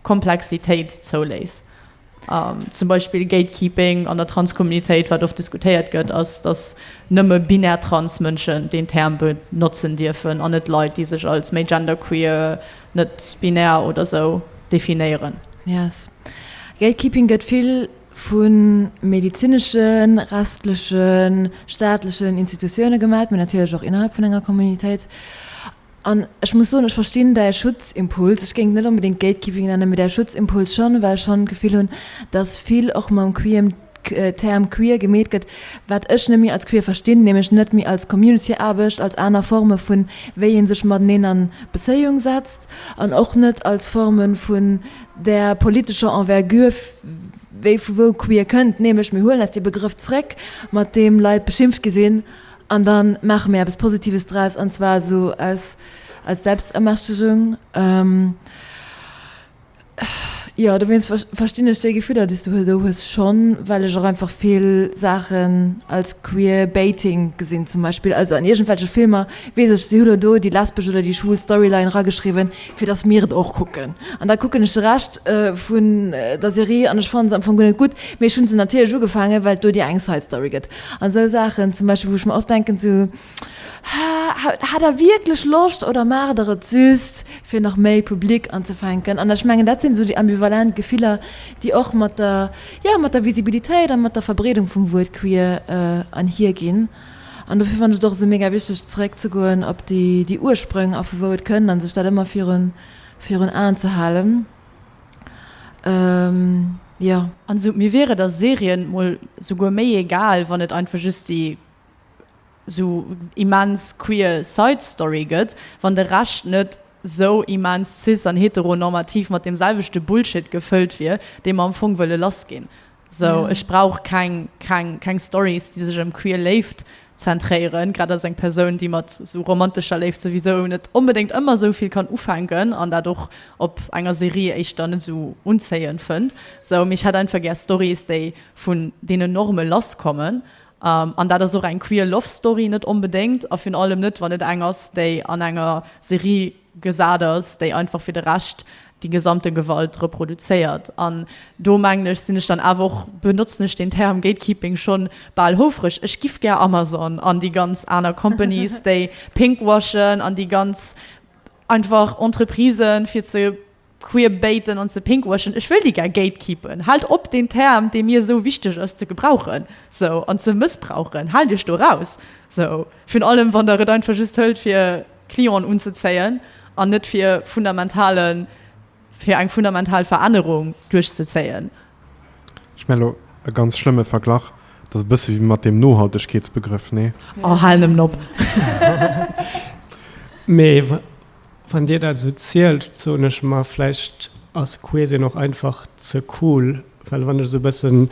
Speaker 3: Komplexitéit zouléiss. Zum Beispill Gatekeeping an der Transcommunitéit, wat oft diskutéiert gëtt, ass, datt nëmme binär trans Mënschen deen Term benotzen dierfen an net Leit, déi sech als méi genderqueer, net binär oder sou definéieren. Yes.
Speaker 4: Gatekeeping gëtt vill vu medezinesche restleche staatlechen Institutioune gemaach, mä natierlech och innerhalb vun enger Communautéit. An ech muss soen, ech verstinn däi Schutzimpuls. Ech géing et net onbedéngt Gatekeeping nennen, mä däi Schutzimpuls schonn, well ech schonn d'Gefill hunn, datt vill och mam queem Term queer gemeet gëtt, wat ech net méi als queer verstinn, nämlech net méi als Community-Aarbecht, als aner Forme vun, wéi ee sech mateneen an Bezéiung setzt. an och net als Formen vun där politescher Envergure, wéi vu wou queer kënnt, nämlech mir huelen eis dee Begrëff zréck, mat deem Leit beschimpft gi sinn, an da maache mir eppes Positives draus, an zwar esou aus Selbstermächtegung. Jo, dowéinst verstinn ech déi Gefiller, déi s du do hues, schonn, well ech och einfach vill Saachen als Queerbaiting gesinn, zum Beispill. Also an iergendwelche Filmer weess ech, si hu elo do déi lesbesch oder déi schwul Storyline erageschriwwen, fir dass mir et och kucken. An da kucken ech de Rescht vun der Serie an ech fannen se am Fong guer net gutt, mee ech hu se natierlech ugefaangen, well et do déi eng Side-Story gëtt an esou Saachen zum Beispill, wou ech mer oft denken, sou, Hat der wierklech Loscht oder maacht der et just fir nach méi Public anzefänken? An ech mengen dat sinn esou déi ambivalent Gefiller, déi och mat der, jo mat der Visibilitéit a mat der Verbreedung vum Wuert queer anhier ginn. An dofir fannen ech et och esou mega wichteg zeréck ze goen op déi déi Ursprong a vu wou et kënnt a sech dat ëmmer virun virun Aen ze halen, jo. An esou mir wiere der
Speaker 3: Serie mol souguer méi egal, wann et einfach just déi sou immens queer side story gëtt, wann de Rescht net sou immens cis an heteronormativ mat deem selwechte Bullshit gefëllt wier, dee mer am Fong wëlle lass ginn. Sou, ech brauch keng, keng, keng Stories, déi sech ëm queer Léift zentréieren, grad als eng Persoun, déi mat sou romantescher Léift souwisou net onbedéngt ëmmer sou vill kann ufänken an dat och op enger Serie éischter net sou unzéiend fënnt. Sou, mee ech hätt einfach gär Stories, déi vun deenen Norme lass kommen An dat ass och eng queer love story net onbedéngt, a virun allem net wann et eng ass déi an enger Serie gesat ass, déi einfach fir de Rescht déi gesamte Gewalt reproduzéiert. An do mengen ech sinn ech dann awer och, benotzen ech den Term gatekeeping schonn bal houfreg, ech giff gär Amazon an déi ganz aner companies déi pinkwashen an déi ganz einfach Entreprisen fir ze queerbaiten an ze pinkwashen, ech wëll déi gär gatekeepen, haalt op deen Term dee mir esou wichteg ass ze gebrauchen esou an ze mëssbrauchen, haalt iech do raus esou, virun allem wann der et einfach just hëlt fir Clienten unzezéien an net fir fundamentalen, fir eng fundamental Verännerung duerchzezéien.
Speaker 2: Ech mär elo e ganz schlëmme Verglach, dat ass e bësse wéi mat deem Nohaltegkeetsbegrëff, nee? Oh hal nemmen op.
Speaker 1: Mee. Wann dir dat esou zielt, soen ech mer, vläicht ass Queesien och einfach ze cool, well wann ech esou e bëssen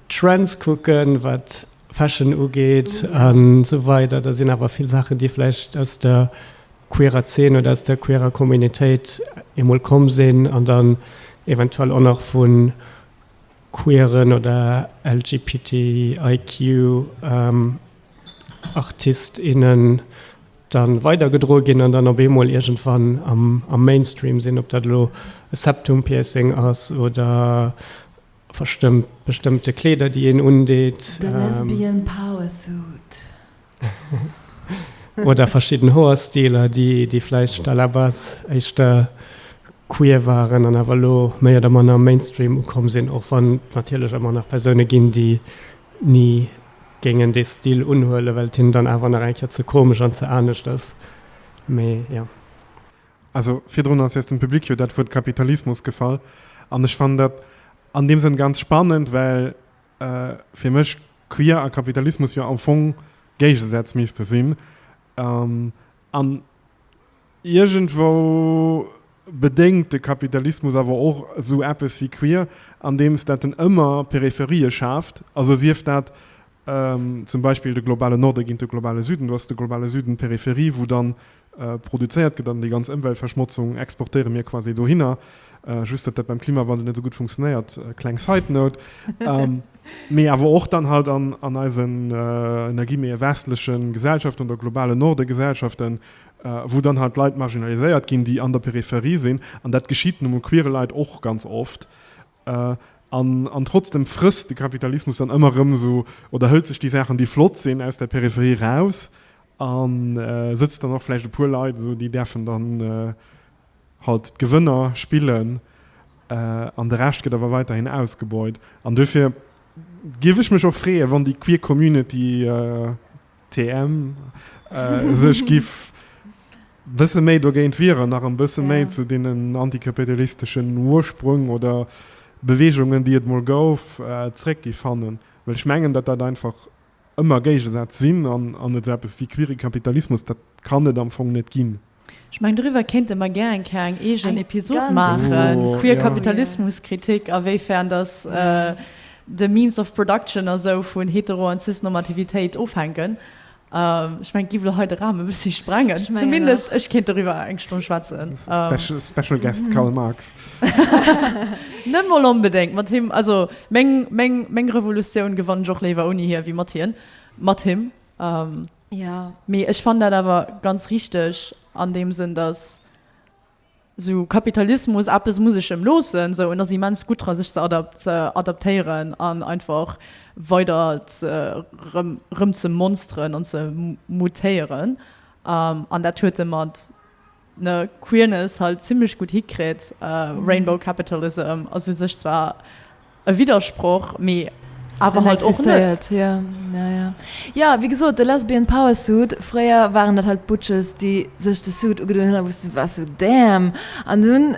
Speaker 1: d'Trends kucken, wat Fashion ugeet a sou weider, da sinn awer vill Saachen, déi vläicht aus der queerer Zeen oder aus der queerer Communitéit emol komm sinn an dann eventuell och nach vu queeren oder LGBTIQ-Artist, innen dann weidergedroe ginn an dann op eemol iergendwann am Mainstream sinn, ob dat elo e Septum-Piercing ass oder verstëmmt bestëmmte Kleeder, déi een undeet. De Lesbian
Speaker 4: Power Suit.
Speaker 1: Oder verschidden Hoerstiler, déi vläicht à la base éischter queer waren an awer elo méi oder manner am Mainstream ukomm sinn, och wann et natierlech ëmmer nach Persoune ginn, déi ni Géing en dee Stil unhuelen, well et him dann awer nach eng Kéier ze komesch an ze anescht ass. Mee jo.
Speaker 2: Also virdrun ass eis dem Public jo dat Wuert Kapitalismus gefall. An ech fannen dat an deem Sënn ganz spannend, well fir mech queer a Kapitalismus jo am Fong Géigesätz misste sinn. An Iergendwou bedéngt de Kapitalismus awer och esou eppes wéi queer, andeems dat en ëmmer Peripherie schaaft, also sief dat zum Beispill de globale Norde géint de globale Süden, do ass de globale Süden d'Peripherie, wou dann produzéiert gëtt, an déi ganz Ëmweltverschmotzung exportéiere mir quasi dohinner, just datt dat beim Klimawandel net esou gutt funktionéiert, kleng side note, mee awer och dann halt an eisen, ënner Guillemets, westleche Gesellschaften oder globalen Norde-Gesellschaften, wou dann halt d'Leit marginaliséiert ginn, déi an der Peripherie sinn, an dat geschitt nu mol queere Leit och ganz oft, an trotzdem frësst de Kapitalismus dann ëmmer erëm esou oder hëlt sech déi Saachen, déi flott sinn, aus der Peripherie eraus a sëtzt dann och vläicht e puer Leit esou, déi däerfen dann halt d'Gewënner spillen, an de Rescht gëtt awer weiderhin ausgebeut. An duerfir géif ech mech och freeën, wann déi queer Community, TM, sech giff bësse méi dogéint wieren, nach en bësse méi zu deenen antikapitalisteschen Ursprung oder Beweegungen, déi et mol gouf, zréck gi fannen. Well ech mengen, datt dat einfach ëmmer Géigesätz sinn an esou eppes wéi queere Kapitalismus, dat kann et am Fong net ginn. Ech mengen doriwwer
Speaker 3: kéinte mer gär eng Kéier eng eegen Episod
Speaker 4: maachen, queer
Speaker 2: Kapitalismuskritik a
Speaker 3: wéifern dass de Means of Production a sou vun Hetero an Cis-Normativitéit ofhänken. Ech mengen et géif elo hei de Raum e bëssi sprengen, zumindest ech
Speaker 4: kéint doriwwer
Speaker 3: eng Stonn schwätzen. Special
Speaker 2: guest Karl Marx.
Speaker 3: Net mol onbedéngt mat him, also meng Revolutioun gewann ech och léiwer ouni hie wéi mat hien, mat him. Ja,
Speaker 4: mee ech fannen dat
Speaker 3: awer ganz richteg an deem Sënn, dass esou Kapitalismus, eppes muss ech em loossen, esou, en ass immens gutt dra sech ze adaptéieren an einfach weider ze rëm ze monsteren an ze mutéieren an dat huet e mat ne Queerness halt zimlech gutt hikritt. Rainbow Capitalism ass u sech zwar e Widdersproch, mee awer halt och net.
Speaker 4: Jo, wéi gesot, de Lesbian Power Suit, fréier waren dat halt d'Butches, déi sech de Suit ugedoen hunn a wou s de waars sou, Damn! An dunn,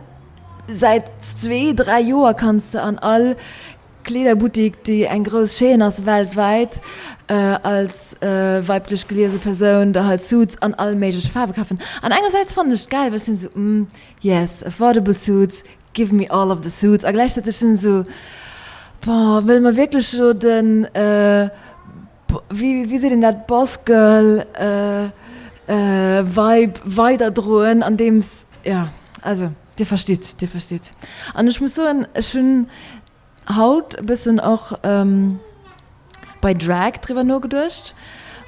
Speaker 4: säit zwee, dräi Joer kanns de an all. Kleederbuttik, déi eng grouss Chaîne ass weltwäit, als weiblech geliese Persoun da hei Suits an all méigleche Faarwe kafen. An engersäits fannen ech gäil, well ech sinn esou, umm, yes, affordable suits, give me all of the suits. A gläichzäiteg sinn ech esou, bon, wëlle mer wierklech elo den, wéi seet een dat, Boss-Girl Vibe weiderdroen andeems, jo also Dir verstitt, Dir verstitt. An ech muss soen, ech hunn haut e bëssen och bei Drag driwwer nogeduecht,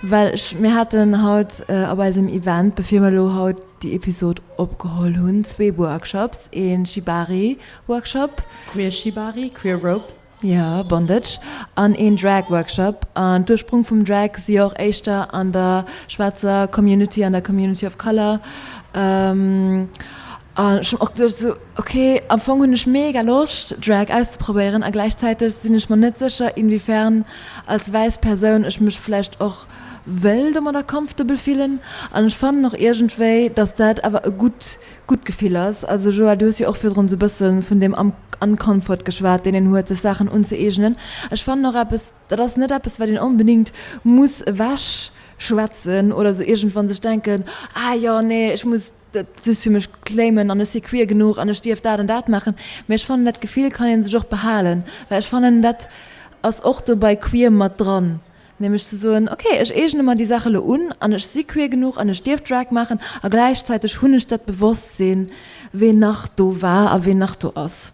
Speaker 4: well ech, mir haten haut op eisem Event, bevir mer elo haut déi Episod opgeholl hunn, zwee Workshops, ee Shibari-Workshop, Queer
Speaker 3: Shibari, Queer Rope, Jo, Bondage
Speaker 4: an een Drag Workshop. An d'Ursprong vum Drag si och éischter an der schwaarzer Community, an der Community of Color. An ech hunn och geduecht esou, ok, am Fong hunn ech mega Loscht Drag auszeprobéieren a gläichzäiteg sinn ech mer net sécher inwiefern als wäiss Persoun ech mech vläicht och wëll domadder comfortable fillen. An ech fannen och iergendwéi, datt dat awer e gutt gutt Gefill ass. Also Joël, du hues jo och virdrun esou e bësse vun deem Uncomfort geschwat, deen een huet, sech Saachen unzëeegnen. Ech fannen och eppes, dat ass net eppes, wat een onbedéngt muss ewech schwätzen oder esou iergendwann sech denken, Ah jo, nee, ech muss dat just fir mech claimen an ech si queer genuch an ech dierf dat an dat maachen. Mee ech fannen, dat Gefill kann ee sech och behalen, well ech fannen, dat ass och do bei queer mat dran, Nämlech ze soen, ok, ech eegene mer déi Saach elo un an ech si queer genuch an ech dierf Drag maachen a gläichzäiteg hunn ech dat Bewosstsinn, ween nach do war a ween nach do ass.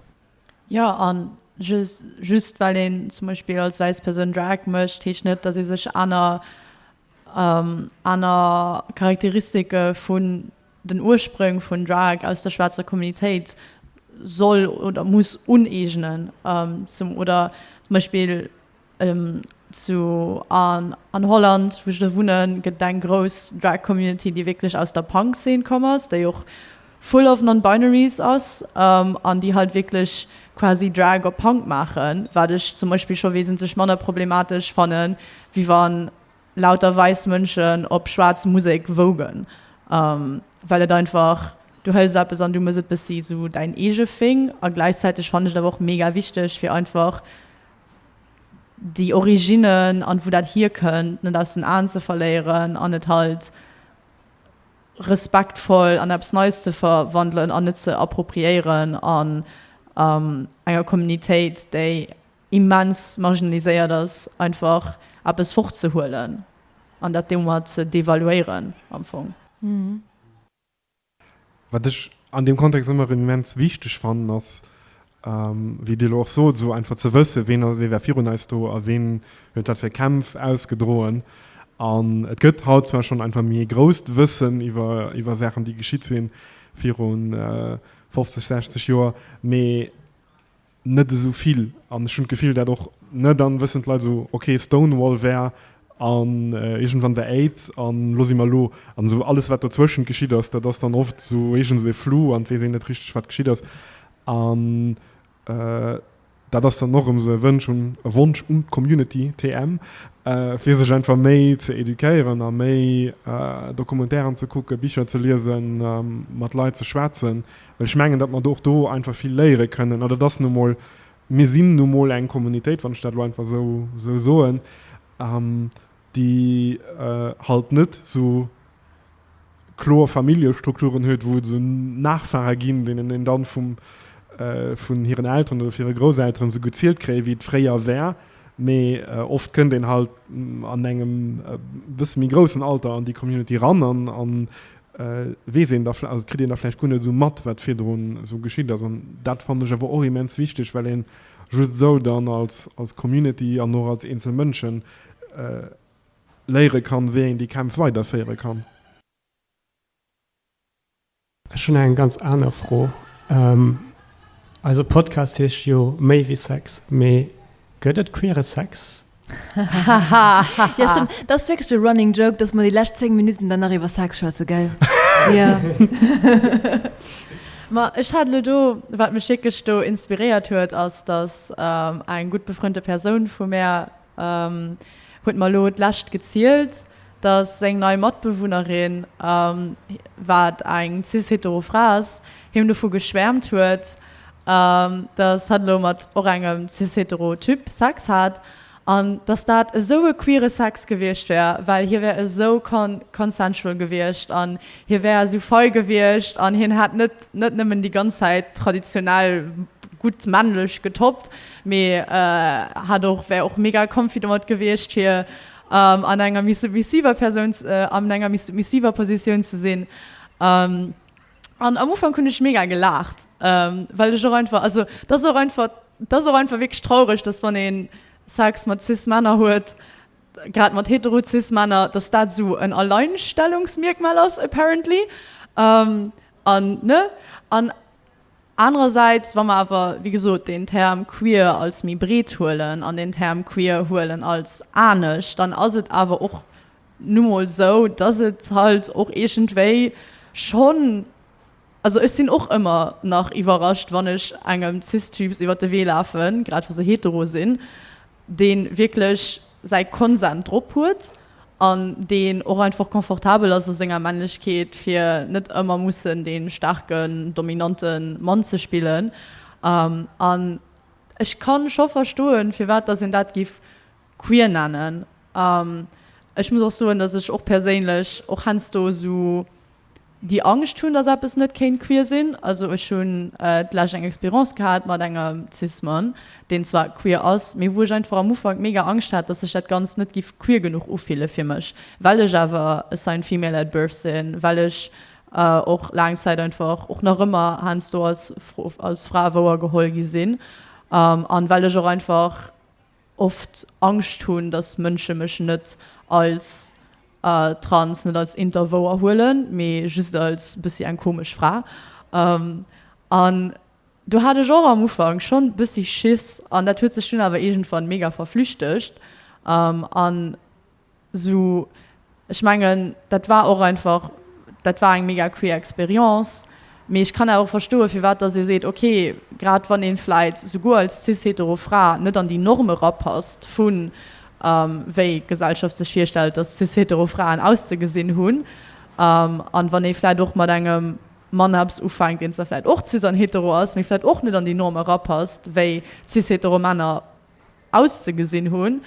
Speaker 4: Jo, a
Speaker 3: just well een zum Beispill als wäiss Persoun Drag mécht, heescht net, datt ee sech aner aner Charakteristike vun den Ursprong vun Drag aus der schwaarzer Communitéit soll oder muss uneegnen. Zum oder zum Beispill Zu an Holland wou ech elo wunnen gëtt et eng grouss Drag Community déi wierklech aus der Punk Zeen komm ass, déi och full of non-binaries ass an déi halt wierklech quasi Drag op Punk maachen, wat ech zum Beispill scho wesentlech manner problematesch fanne wéi wann lauter wäiss Mënschen op schwaarz Musek wougen, well et einfach, du hëls eppes an du mëss et bëssi sou däin eege Thing a gläichzäiteg fanne ech et awer och mega wichteg fir einfach déi Originnen an wou dat hier kënnt, net aus den Aen ze verléieren an et halt respektvoll an eppes Neies ze verwandelen an net ze appropriéieren an enger Communitéit, déi immens marginaliséiert ass, einfach eppes fortzehuelen an dat domat ze devaluéieren am Fong.
Speaker 2: Wat ech an deem Kontext ëmmer erëm immens wichteg fannen, ass, wéi Dir elo och sot, esou einfach ze wëssen, ween war virun eis do a ween huet wat fir Kämpf ausgedroen. An et gëtt haut zwar schonn einfach méi ee grousst Wëssen iwwer Saachen, déi geschitt si viru 50, 60 Joer, mee net esou vill an ech hunn d'Gefill dat och net. Dann wëssen d'Leit esou ok Stonewall wär an iergendwann wär Aids an lo si mer elo. An esou alles wat dozwëschent geschitt ass, dat ass dann oft esou iergend esou e Flou an et weess een net richteg wat geschitt ass. An dat ass dann och erëm esou e Wënsch un, e Wonsch un d'Community TM fir sech einfach méi ze educéieren a méi Documentairen ze kucken, Bicher ze liesen, mat Leit ze schwätzen, Well ech mengen, datt mer och do einfach vill léiere kënnen. An et ass nu emol, mir sinn nu emol eng Kommunitéit, wann ech dat elo einfach esou soen, déi halt net esou kloer Familljestrukturen huet, wou et esou Nachfahre ginn, deenen een dann vun hiren Elteren oder hire Grousselteren esou gezielt kréie wéi et fréier war, mee oft kënnt een halt an engem e bësse méi groussen Alter an déi Community eran an weess een da, also et kritt een da vläicht guer net esou mat, wat virdrun esou geschitt ass. An dat fannen ech awer och immens wichteg, well een just esou dann als, als Community an och als eenzel Mënschen léiere kann, wéi een déi Kämpf weiderféiere kann.
Speaker 1: Ech hunn eng ganz aner Fro. Eise Podcast heescht jo Méi wéi Sex, mee gëtt et queere Sex?
Speaker 4: ja, stimmt. Das ist wirklich ein Running Joke, dass wir die letzten 10 Minuten danach über Sex schwätzen, gell? ja.
Speaker 3: Ma ech hat lo do wat mech schickesch do inspiréiert huet ass datt ähm, eng gut befrënnte Persoun vu mär ähm, huet mal lo d'läscht gezielt dass seng nei Matbewunnerin, wat eng cis-hetero Fra ass, him dovu geschwäermt huet, dass hatt elo mat och engem cis-hetero Typ Sex hat, an dass dat esou e queere Sex gewiescht wär, well hie wär esou consensual gewiescht an hie wär esou fei gewiescht an hien hätt net net nëmmen déi ganz Zäit traditionell gutt männlech getoppt, mee hätt och wär och mega comfy domat gewiescht, fir an enger méi submissiver Persoun, an enger méi submissiver Positioun ze sinn. An am Ufank hunn ech mega gelaacht, well ech och einfach, also dat ass och einfach, dat ass och einfach wierklech traureg, datt wann ee Sex mat Cis-Männer huet, grad mat hetero-Cis-Männer, datt dat esou en Alleinstellungsmierkmal ass apparently. An, ne? An. Anerersäits, wa mer awer, wéi gesot, deen Term queer als méi breet huelen an deen Term queer huelen als anesch, dann ass et awer och nu mol esou, dass et halt och iergendwéi schonn, also ech sinn och ëmmer nach iwwerrascht, wann ech engem Cis-Typs iwwer de Wee lafen, grad wa se hetero sinn, dee wierklech säi Konsent drop huet an deen och einfach confortabel ass a senger Männlechkeet, fir net ëmmer mussen dee staarken, dominante Mann ze spillen. An ech ka scho verstoen, firwat dass een dat géif queer nennen. Ech muss och soen, dass ech och perséinlech och heiansdo esou. déi Angscht hunn, datt eppes net kéint queer sinn. Also ech hunn d'lescht eng Expérience gehat mat engem Cis-Mann, deen zwar queer ass, mee wou ech einfach am Ufank mega Angscht hat, datt sech dat Ganzt net giff queer genuch ufille fir mech, well ech awer a signed female at birth sinn, well ech och laang Zäit einfach, och nach ëmmer heiansdo, als Fra wouergeholl gi sinn an well ech och einfach oft Angscht hunn, dass Mënsche mech net als trans, net als inter wouerhuelen, mee just als e bëssi eng komesch Fra. An do hat ech och am Ufank schonn e bëssi Schiss an dat huet sech dunn awer iergendwann mega verflüchtegt. An. Sou, ech mengen, dat war och einfach, dat war eng mega queer Experience. Mee ech kann awer och verstoen, firwat dass ee seet, ok, grad wann ee vläit souguer als cis-hetero Fra net an déi Norm erapasst, vu wéi d'Gesellschaft sech virstellt, dass cis-hetero Fraen auszegesinn hunn, an wann ee vläit och mat engem Mann eppes ufänkt, deen zwar vläit och cis an hetero ass, mee vläit och net an déi Norm erapasst, wéi cis-hetero Männer auszegesinn hunn.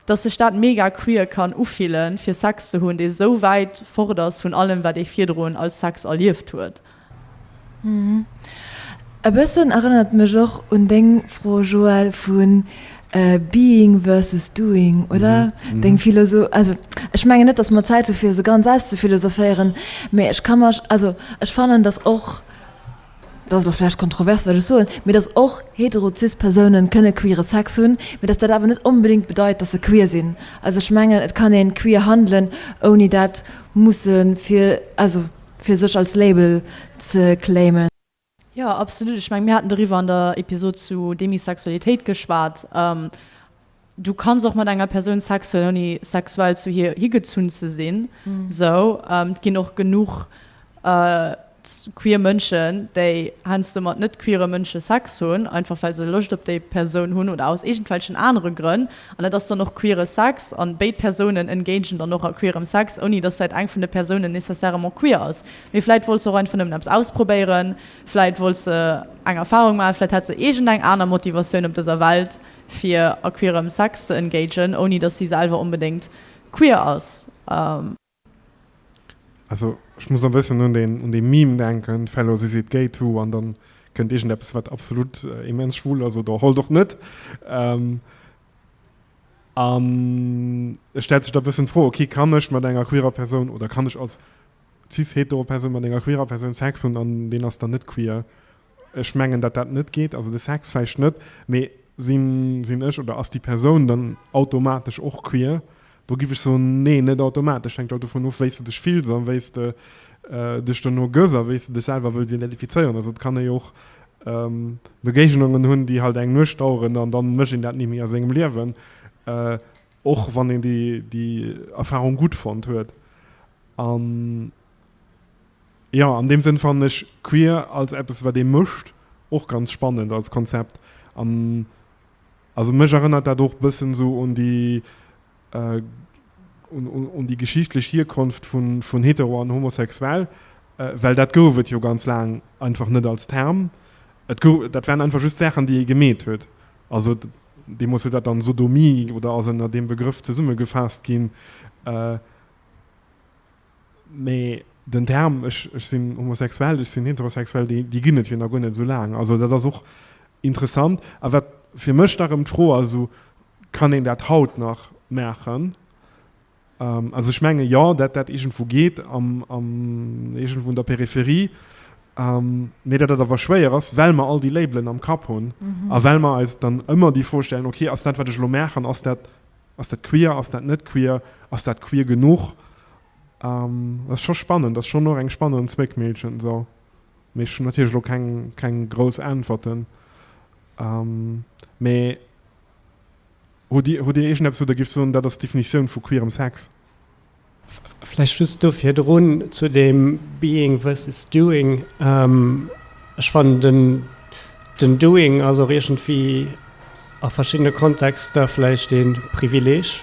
Speaker 3: Dass sech dat mega queer kann ufillen, fir Sex ze hunn, dee sou wäit fort ass vun allem, wat ee virdrun als Sex erlieft huet.
Speaker 4: E bëssen erënnert et mech och un deng Fro, Joël, vu being versus doing, oder? Deng Philosoph-, also ech mengen net, dass mer Zäit hu fir se ganz auszufilosophéieren, mä ech ka mech, also ech fannen, dass och dat ass elo vläicht kontrovers wat ech soen, mee dass och hetero-cis Persounen kënne queere Sex hunn, mee dass dat awer net onbedéngt bedeit, dass se queer sinn. Also ech mengen, et kann ee queer handelen, ouni dat musse fir, also fir sech als Label ze claimen. Jo, absolut.
Speaker 3: Ech menge mir haten doriwwer an der Episod zu Demisexualitéit geschwat. Du kanns och mat enger Persoun Sex hunn, ouni sexuell zu hir higezunn ze sinn. Esou, et ginn och genuch queer Mënschen, déi heiansdo mat net-queere Mënsche Sex hunn, einfach well se Loscht op déi Persoun hunn oder aus iergendwelchen anere Grënn. An dat ass dann och queere Sex an béid Persounen engagen dann och a queerem Sex, ouni dass vläicht eng vun de Persounen nécessairement queer ass, mee vläicht wollt se och einfach nëmmen eppes ausprobéieren, vläicht wollt se eng Erfarung maachen, vläicht hat se iergendeng aner Motivatioun op dëser Welt, fir a queerem Sex ze engagen, ouni dass si selwer onbedéngt queer ass.
Speaker 2: Also ech muss elo e bëssen un deen, un dee Meme denken, Fellows is it gay too? An dann kënnt iergendeppes wat absolut immens schwul ass oder halt och net. An et stellt sech da e bëssen d'Fro, ok, kann ech mat enger queerer Persoun, oder kann ech als cis-hetero Persoun mat enger queerer Persoun Sex hunn an deen ass dann net queer? Ech mengen dat dat net geet, also de Sex vläicht net, mee sinn sinn ech oder ass déi Persoun dann automatesch och queer? Do giff ech soen, nee net automatesch, hänkt alt dovun of wéi s de dech fills an wéi s de dech dono gëss a wéi s de dech selwer wëlls identifizéieren. Also et kann ee jo och Begéignungen hunn déi halt eng Nuecht daueren an dann mécht een dat ni méi a sengem Liewen, och wann een déi déi Erfarung gutt fonnt huet. An Jo, an deem Sënn fannen ech queer als eppes wat ee mécht och ganz spannend als Konzept. An also mech erënnert dat och bëssen esou un déi un déi geschichtlech Hierkonft vun hetero an homosexuell, well dat gouf et jo ganz laang einfach net als Term. Et gouf, dat waren einfach just Saachen déi ee gemeet huet. Also deemools huet dat dann Sodomie oder ass ënner deem Begrëff zesummegefaasst ginn. Mee den Term, ech sinn homosexuell, ech sinn heterosexuell, déi ginn et jo nach guer net esou laang. Also dat ass och interessant. A wat fir mech nach erëm d'Fro ass, also kann een dat haut nach maachen? Also ech menge jo, dat dat iergendwou geet, iergendwou an der Peripherie, mee dat dat awer schwéier ass, well mer all déi Labelen am Kapp hunn a well mer eis dann ëmmer déi Fro stellen, okay, ass dat wat ech elo maachen, ass dat, Ass dat queer, ass dat net queer, ass dat queer genuch? Dat ass scho spannend, ass schonn och eng spannend Zméckmillchen esou. Mee ech hunn natierlech elo keng, keng grouss Äntwerten. Mee hutt Dir, hutt Dir iergendeppes, wou Der géift soen, dat ass d'Definitioun vu queerem Sex?
Speaker 1: Vläicht just do virdrun zu deem Being versus Doing, Ech fannen, den, den Doing ass och iergendwéi a verschiddene Kontexter vläicht ee Privileeg,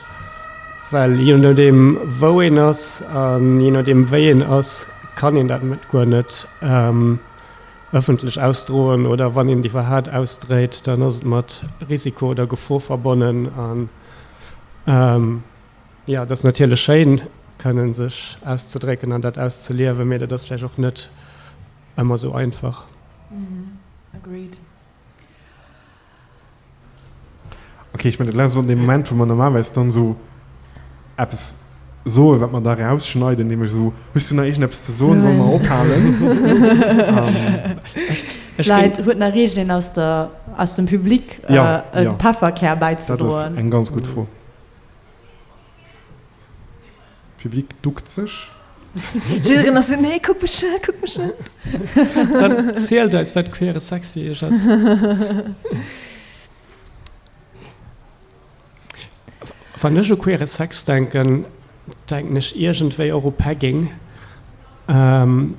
Speaker 1: well jee nodeem, wou een ass a jee nodeem, wéi een ass, kann een dat net, guer net ëffentlech ausdroen. Oder wann een et iwwerhat ausdréit, dann ass et mat Risiko oder Gefor verbonnen. Jo, et ass natierlech schéin, kënnen sech auszedrécken an dat auszeliewen, mee dat ass vläicht och net ëmmer esou einfach.
Speaker 4: Agreed.
Speaker 2: Ok, ech mengen dat laang ass dann dee Moment wou mer normalerweis dann esou eppes soen wat mer da rausschneiden, nämlech esou, hues du nach iergendeppes ze soen, sollen mer ophalen?
Speaker 3: Vläit huet nach iergendeen aus dem Public e Pefferkär bäizedroen? Dat ass eng ganz gutt Fro.
Speaker 2: Public duckt sech. Jill
Speaker 4: Renner, esou, Nee, kuck mech net, kuck mech net. Dann
Speaker 1: zielt eis, wat queere Sex fir iech ass. Wann ech u queere Sex denken, denken ech iergendwéi och u Pegging.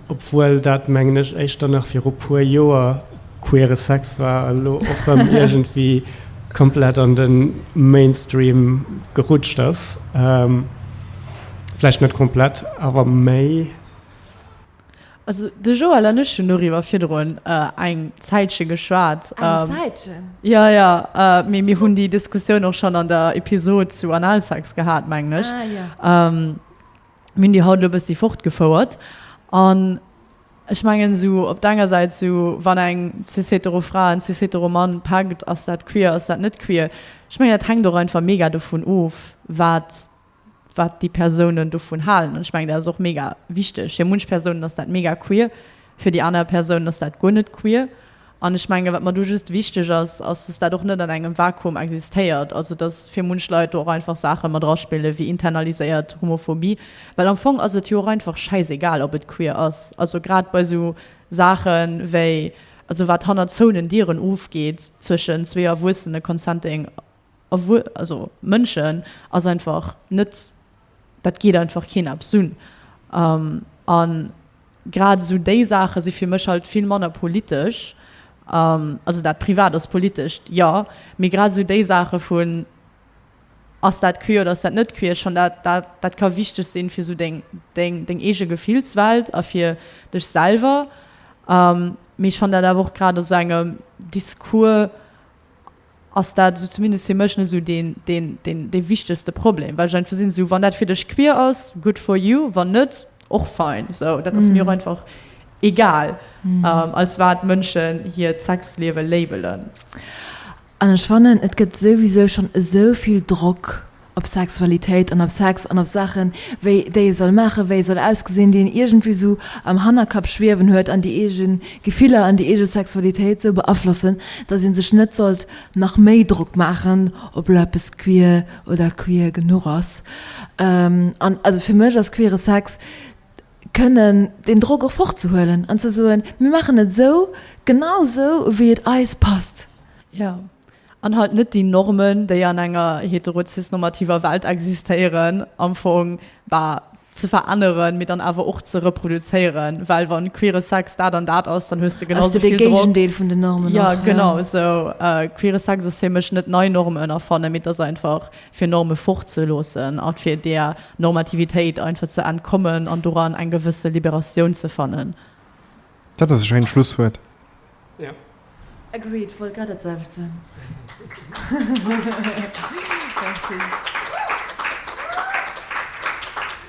Speaker 1: Obwuel dat, mengen ech, éischter nach viru puer Joer queere Sex war, elo och rëm iergendwéi komplett an de Mainstream gerutscht ass. Vläicht net komplett, awer méi.
Speaker 3: Also de Joël an ech hunn doriwwer virdrun eng Zäitche geschwat. Eng Zäitchen?
Speaker 4: Jo, jo.
Speaker 3: Mee mir hunn déi Diskussioun och schonn an der Episod zu Analsex gehat, mengen ech. Ah,
Speaker 4: jo. Mir
Speaker 3: hunn déi haut elo e bëssi fortgefouert. An ech mengen, esou op der enger Säit, esou wann eng cis-hetero-Fra en cis-hetero-Mann packt, ass dat queer, ass dat net queer? Ech mengen, dat hänkt och einfach mega dovun of, wat, wat déi Persounen dovun halen. An ech mengen, dat ass och mega wichteg. Fir munch Persounen ass dat mega queer, fir déi aner Persounen ass dat guer net queer. An ech mengen, wat mer do just wichteg ass, ass, dass dat och net an engem Vakuum existéiert, also dass fir munch Leit do och einfach Saache mat draspille wéi internaliséiert Homophobie, well am Fong ass et jo och einfach schäisegal, ob et queer ass. Also grad bei esou Saache wéi, also wat hannert zouenen Dieren ofgeet zwëschen zwee Erwuessene, Consenting erwuer-, also Mënschen, ass einfach net, dat geet einfach keen eppes un. A grad esou déi Saache si fir mech halt vill manner politesch, also dat Privat ass politesch, jo, mee grad esou déi Saache vun, ass dat queer oder ass dat net queer, schonn dat, dat, dat ka wichteg sinn, fir esou deng, deng, deng eege Gefillswelt a fir dech selwer. Mee ech fannen dat awer och grad a sou engem Discours, ass dat, esou zumindest fir mech, net esou dee wichtegste Problem, well ech einfach sinn, esou, wann dat fir dech queer ass, good for you, wann net, och fein. Esou, dat ass mir och einfach egal, als wat Mënschen hiert Sexliewe labelen. An
Speaker 4: ech fannen, et gëtt souwisou schonn esou vill Drock op Sexualitéit an op Sex an op Saachen, wéi déi e soll maachen, wéi e soll ausgesinn, déi een iergendwéi esou am Hannerkapp schwiewen huet an déi eege Gefiller an déi eege Sexualitéit esou beaflossen, datt ee sech net sollt nach méi Drock maachen, ob elo eppes queer oder queer genuch ass. An also fir mech ass queere Sex kënnen deen Drock och fortzehuelen an ze soen, mir maachen et esou, genau esou wéi et eis passt. Jo.
Speaker 3: An halt net déi Normen, déi an enger heterozisnormativer Welt existéieren, am Fong, bah, ze veränneren, mee dann awer och ze reproduzéieren, well wa queere Sex dat an dat ass, dann hues de genau esou vill Drock. Ass de Géigendeel vun den Normen och, jo. Jo,
Speaker 4: genau esou. Queere
Speaker 3: Sex ass fir mech net nei Normen erfannen, mee et ass einfach fir Norme fort ze loossen a fir där Normativitéit einfach ze entkommen an doran eng gewësse Liberatioun ze fannen. Dat ass
Speaker 2: e schéint Schlusswuert.
Speaker 1: Agreed,
Speaker 4: wollt grad dat selwecht soen.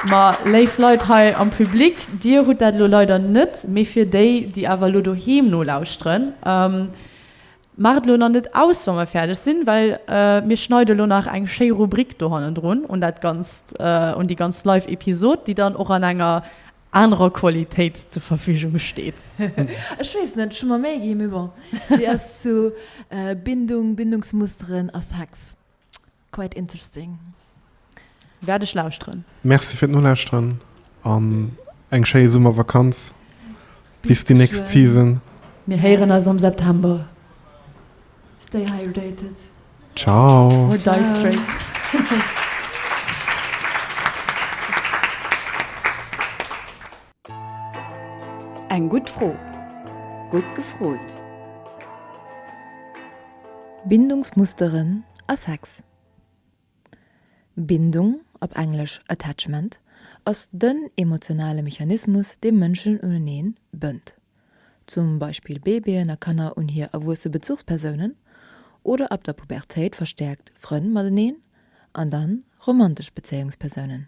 Speaker 3: Ma léif Leit hei am Public, Dir hutt dat elo leider net, mee fir déi, déi awer elo doheem nolauschteren, Maacht elo nach net aus, wa mer fäerdeg sinn, well mir schneide elo nach eng schéi Rubrik do hannendrun un dat Ganzt, un déi ganz Live-Episod, déi dann och an enger anerer Qualitéit zur Verfügung steet. Ech weess
Speaker 4: net, ech hu mer Méi gi, mee bon, si ass zu Bindung, Bindungsmusteren a Sex quite interesting.
Speaker 3: Wäert ech lauschteren. Merci fir d'Nolauschteren
Speaker 2: an eng schéi Summervakanz. Bis déi nächst Season. Mir héieren eis
Speaker 3: am September.
Speaker 4: Stay hydrated. Ciao. Or
Speaker 2: die straight.
Speaker 8: Eng gutt Fro. Gutt gefrot.
Speaker 4: Bindungsmusteren a Sex. Bindung, op Englesch attachment, ass den emotionale Mechanismus, dee Mënschen uneneen bënnt, zum Beispill Baby'en a Kanner un hir erwuesse Bezuchspersounen oder ab der Pubertéit verstäerkt Frënn mateneen an dann romantesch Bezéiungspersounen.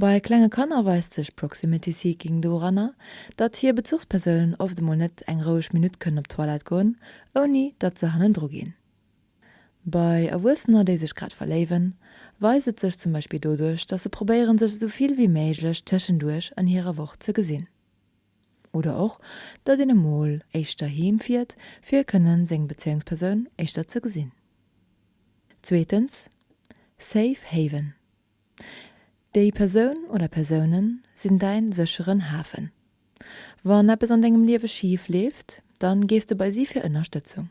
Speaker 4: Bei klenge Kanner weist sech Proximity Seeking doranner, datt hir Bezuchspersounen oft emol net eng roueg Minutt kënnen op d'Toilette goen, ouni datt se hannendru ginn. Bei Erwuessener, déi sech grad verléiwen, weist et sech zum Beispill doduerch, datt se probéieren, sech esou vill wéi méiglech tëschenduerch an hirer Woch ze gesinn. Oder och, datt een emol éischter heem fiert, fir kënnen seng Bezéiungspersoun éischter ze gesinn. Zweetens, Safe Haven, Déi Persoun oder Persounen sinn däin sécheren Hafen. Wann eppes an dengem Liewe schif leeft, dann gees de bei si fir Ënnerstëtzung.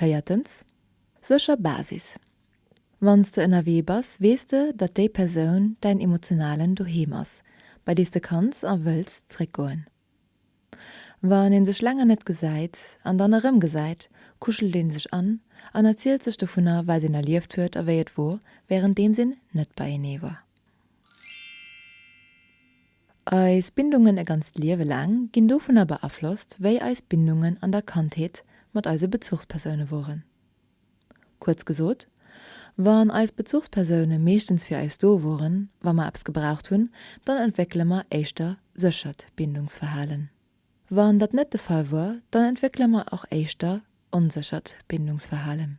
Speaker 4: Véiertens, sécher Basis. Wann s de ënnerwee bass, weess de, datt déi Persoun däin emotionalen Doheem ass, bei dee s de kanns a wëlls zréckgoen. Wann ee sech länger net gesäit an dann erëmgesäit, kuschelt ee sech an an erzielt sech dovunner, wat een erlieft huet a wéi et wor, wärenddeems een net beienee war. Eis Bindungen e ganzt Liewe laang ginn dovunner beaflosst, wéi eis Bindungen an der Kandheet mat eise Bezuchspersoune woren. Kuerz gesot, wann eis Bezuchspersoune meeschtens fir eis do woren, wa mer eppes gebraucht hunn, dann entwéckele mer éischter séchert Bindungsverhalen. Wann dat net de Fall wor, dann entwéckele mer och éischter onséchert Bindungsverhalen.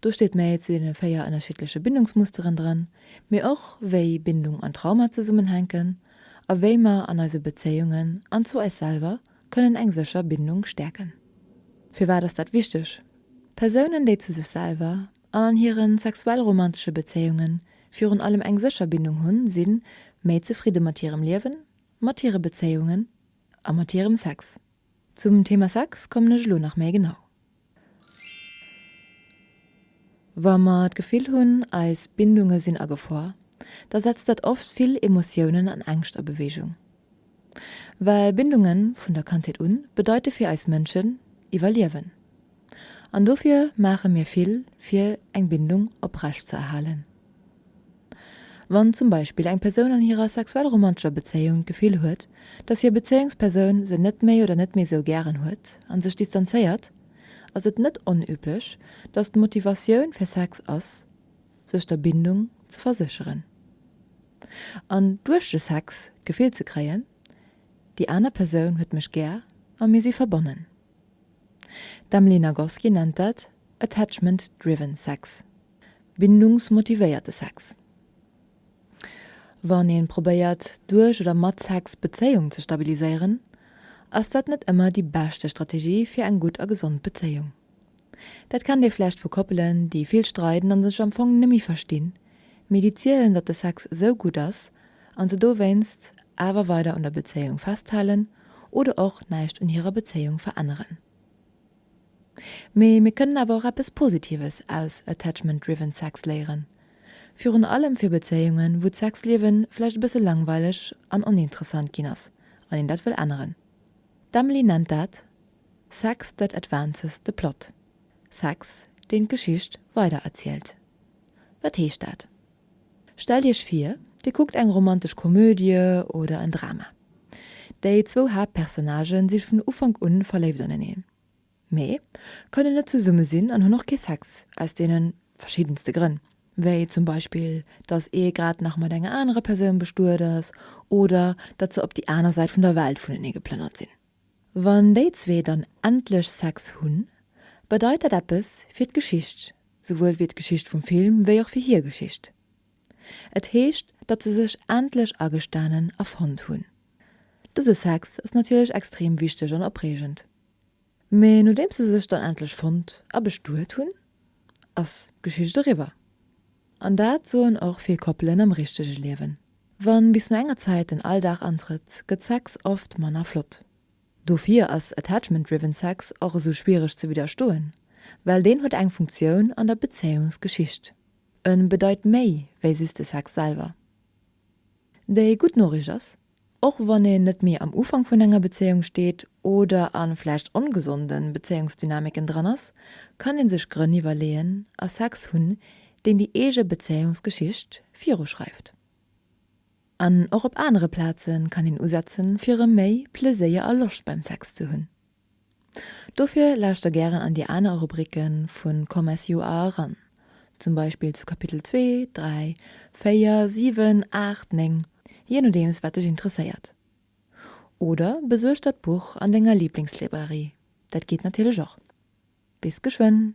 Speaker 4: Do steet méi zu deene véier ënnerschiddleche Bindungsmusteren dran, mee och wéi Bindung an Trauma zesummenhänken a wéi mer an eise Bezéiungen an zu eis selwer kënnen eng sécher Bindung stäerken. Firwat ass dat wichteg? Persounen, déi zu sech selwer an an hire sexuell-romantesche Bezéiungen virun allem eng sécher Bindung hunn, si méi zefridde mat hirem Liewen, mat hire Bezéiungen a mat hirem Sex. Zum Thema Sex kommen ech elo nach méi genau. Wa mer d'Gefill hunn, eis Bindunge sinn a Gefor, da setzt dat oft vill Emotiounen an Ängscht a Bewegung. Well Bindunge vun der Kandheet un bedeite fir eis Mënschen Iwwerliewen. An dofir maache mir vill, fir eng Bindung oprecht ze erhalen. Wann zum Beispill eng Persoun an hirer sexuell-romantescher Bezéiung d'Gefill huet, dass hir Bezéiungspersoun se net méi oder net méi esou gären huet a sech distanzéiert, ass et net onüblech, dass d'Motivatioun fir Sex ass, sech der Bindung ze versécheren an duerch de Sex d'Gefill ze kréien, déi aner Persoun huet mech gär a mir si verbonnen. D'Emily Nagoski nennt dat attachment-driven sex, Bindungsmotivéierte Sex, Wann ee probéiert, duerch oder mat Sex d'Bezéiung ze stabiliséieren, ass dat net ëmmer déi beschte Strategie fir eng gutt a gesond Bezéiung. Dat kennt ee vläicht vu Koppelen, déi vill streiden a sech am Fong nëmme verstinn, mee déi zielen, datt de Sex esou gutt ass a se dowéinst awer weider un der Bezéiung festhalen oder och näischt un hirer Bezéiung veränneren. Mee mir kënnen awer och eppes Positives aus Attachment-Driven Sex léieren. Virun allem fir Bezéiungen, wou d'Sexliewe vläicht e bësse langweileg an oninteressant ginn ass an een dat wëll änneren. D'Emily nennt dat Sex that advances the plot, Sex, deen d'Geschicht weider erzielt. Wat heescht dat? Stellt Iech vir, Dir kuckt eng romantesch Komödie oder en Drama. Déi zwou Haaptpersonnagë si vun Ufank un verléift aneneen, mee kënnen net zesumme sinn an hunn och kee Sex, aus deene verschiddenste Grënn, wéi zum Beispill, datt ee grad nach mat enger anerer Persoun bestuet ass oder datt se op déi aner Säit vun der Welt vunenee geplënnert sinn. Wann déi zwee dann endlech Sex hunn, bedeit dat eppes fir d'Geschicht, souwuel wéi d'Geschicht vum Film wéi och fir hir Geschicht. Et heescht, datt se sech endlech agestanen a fonnt hunn. Dëse Sex ass natierlech extrem wichteg an opreegend. Mee nodeems se sech dann endlech fonnt a bestuet hunn, ass d'Geschicht eriwwer. An dat soen och vill Koppelen am richtege Liewen. Wann bis no enger Zäit den Alldag antrëtt, gëtt Sex oft manner flott. Dofir ass Attachment-Driven Sex och esou schwiereg ze widderstoen, well deen huet eng Funktioun an der Bezéiungsgeschicht. E bedeit méi wéi just de Sex selwer. Déi gutt Noricht ass, Och wann een net méi am Ufank vun enger Bezéiung steet oder a vläicht ongesonde Bezéiungsdynamiken dran ass, kann ee sech Grënn iwwerleeën a Sex hunn, deen déi eege Bezéiungsgeschicht viruschreift. An och op anere Plaze kann een usetze fir erëm méi Pleséier a Loscht beim Sex ze hunn. Dofir lauschter gären an déi aner Rubricke vu Comes You Are eran, zum Beispill zu Kapitel 2, 3, 4, 7, 8, 9, jee nodeems wat dech interesséiert. Oder besuerg der d'Buch an denger Liblingslibrarie, dat geet natierlech och. Bis geschwënn!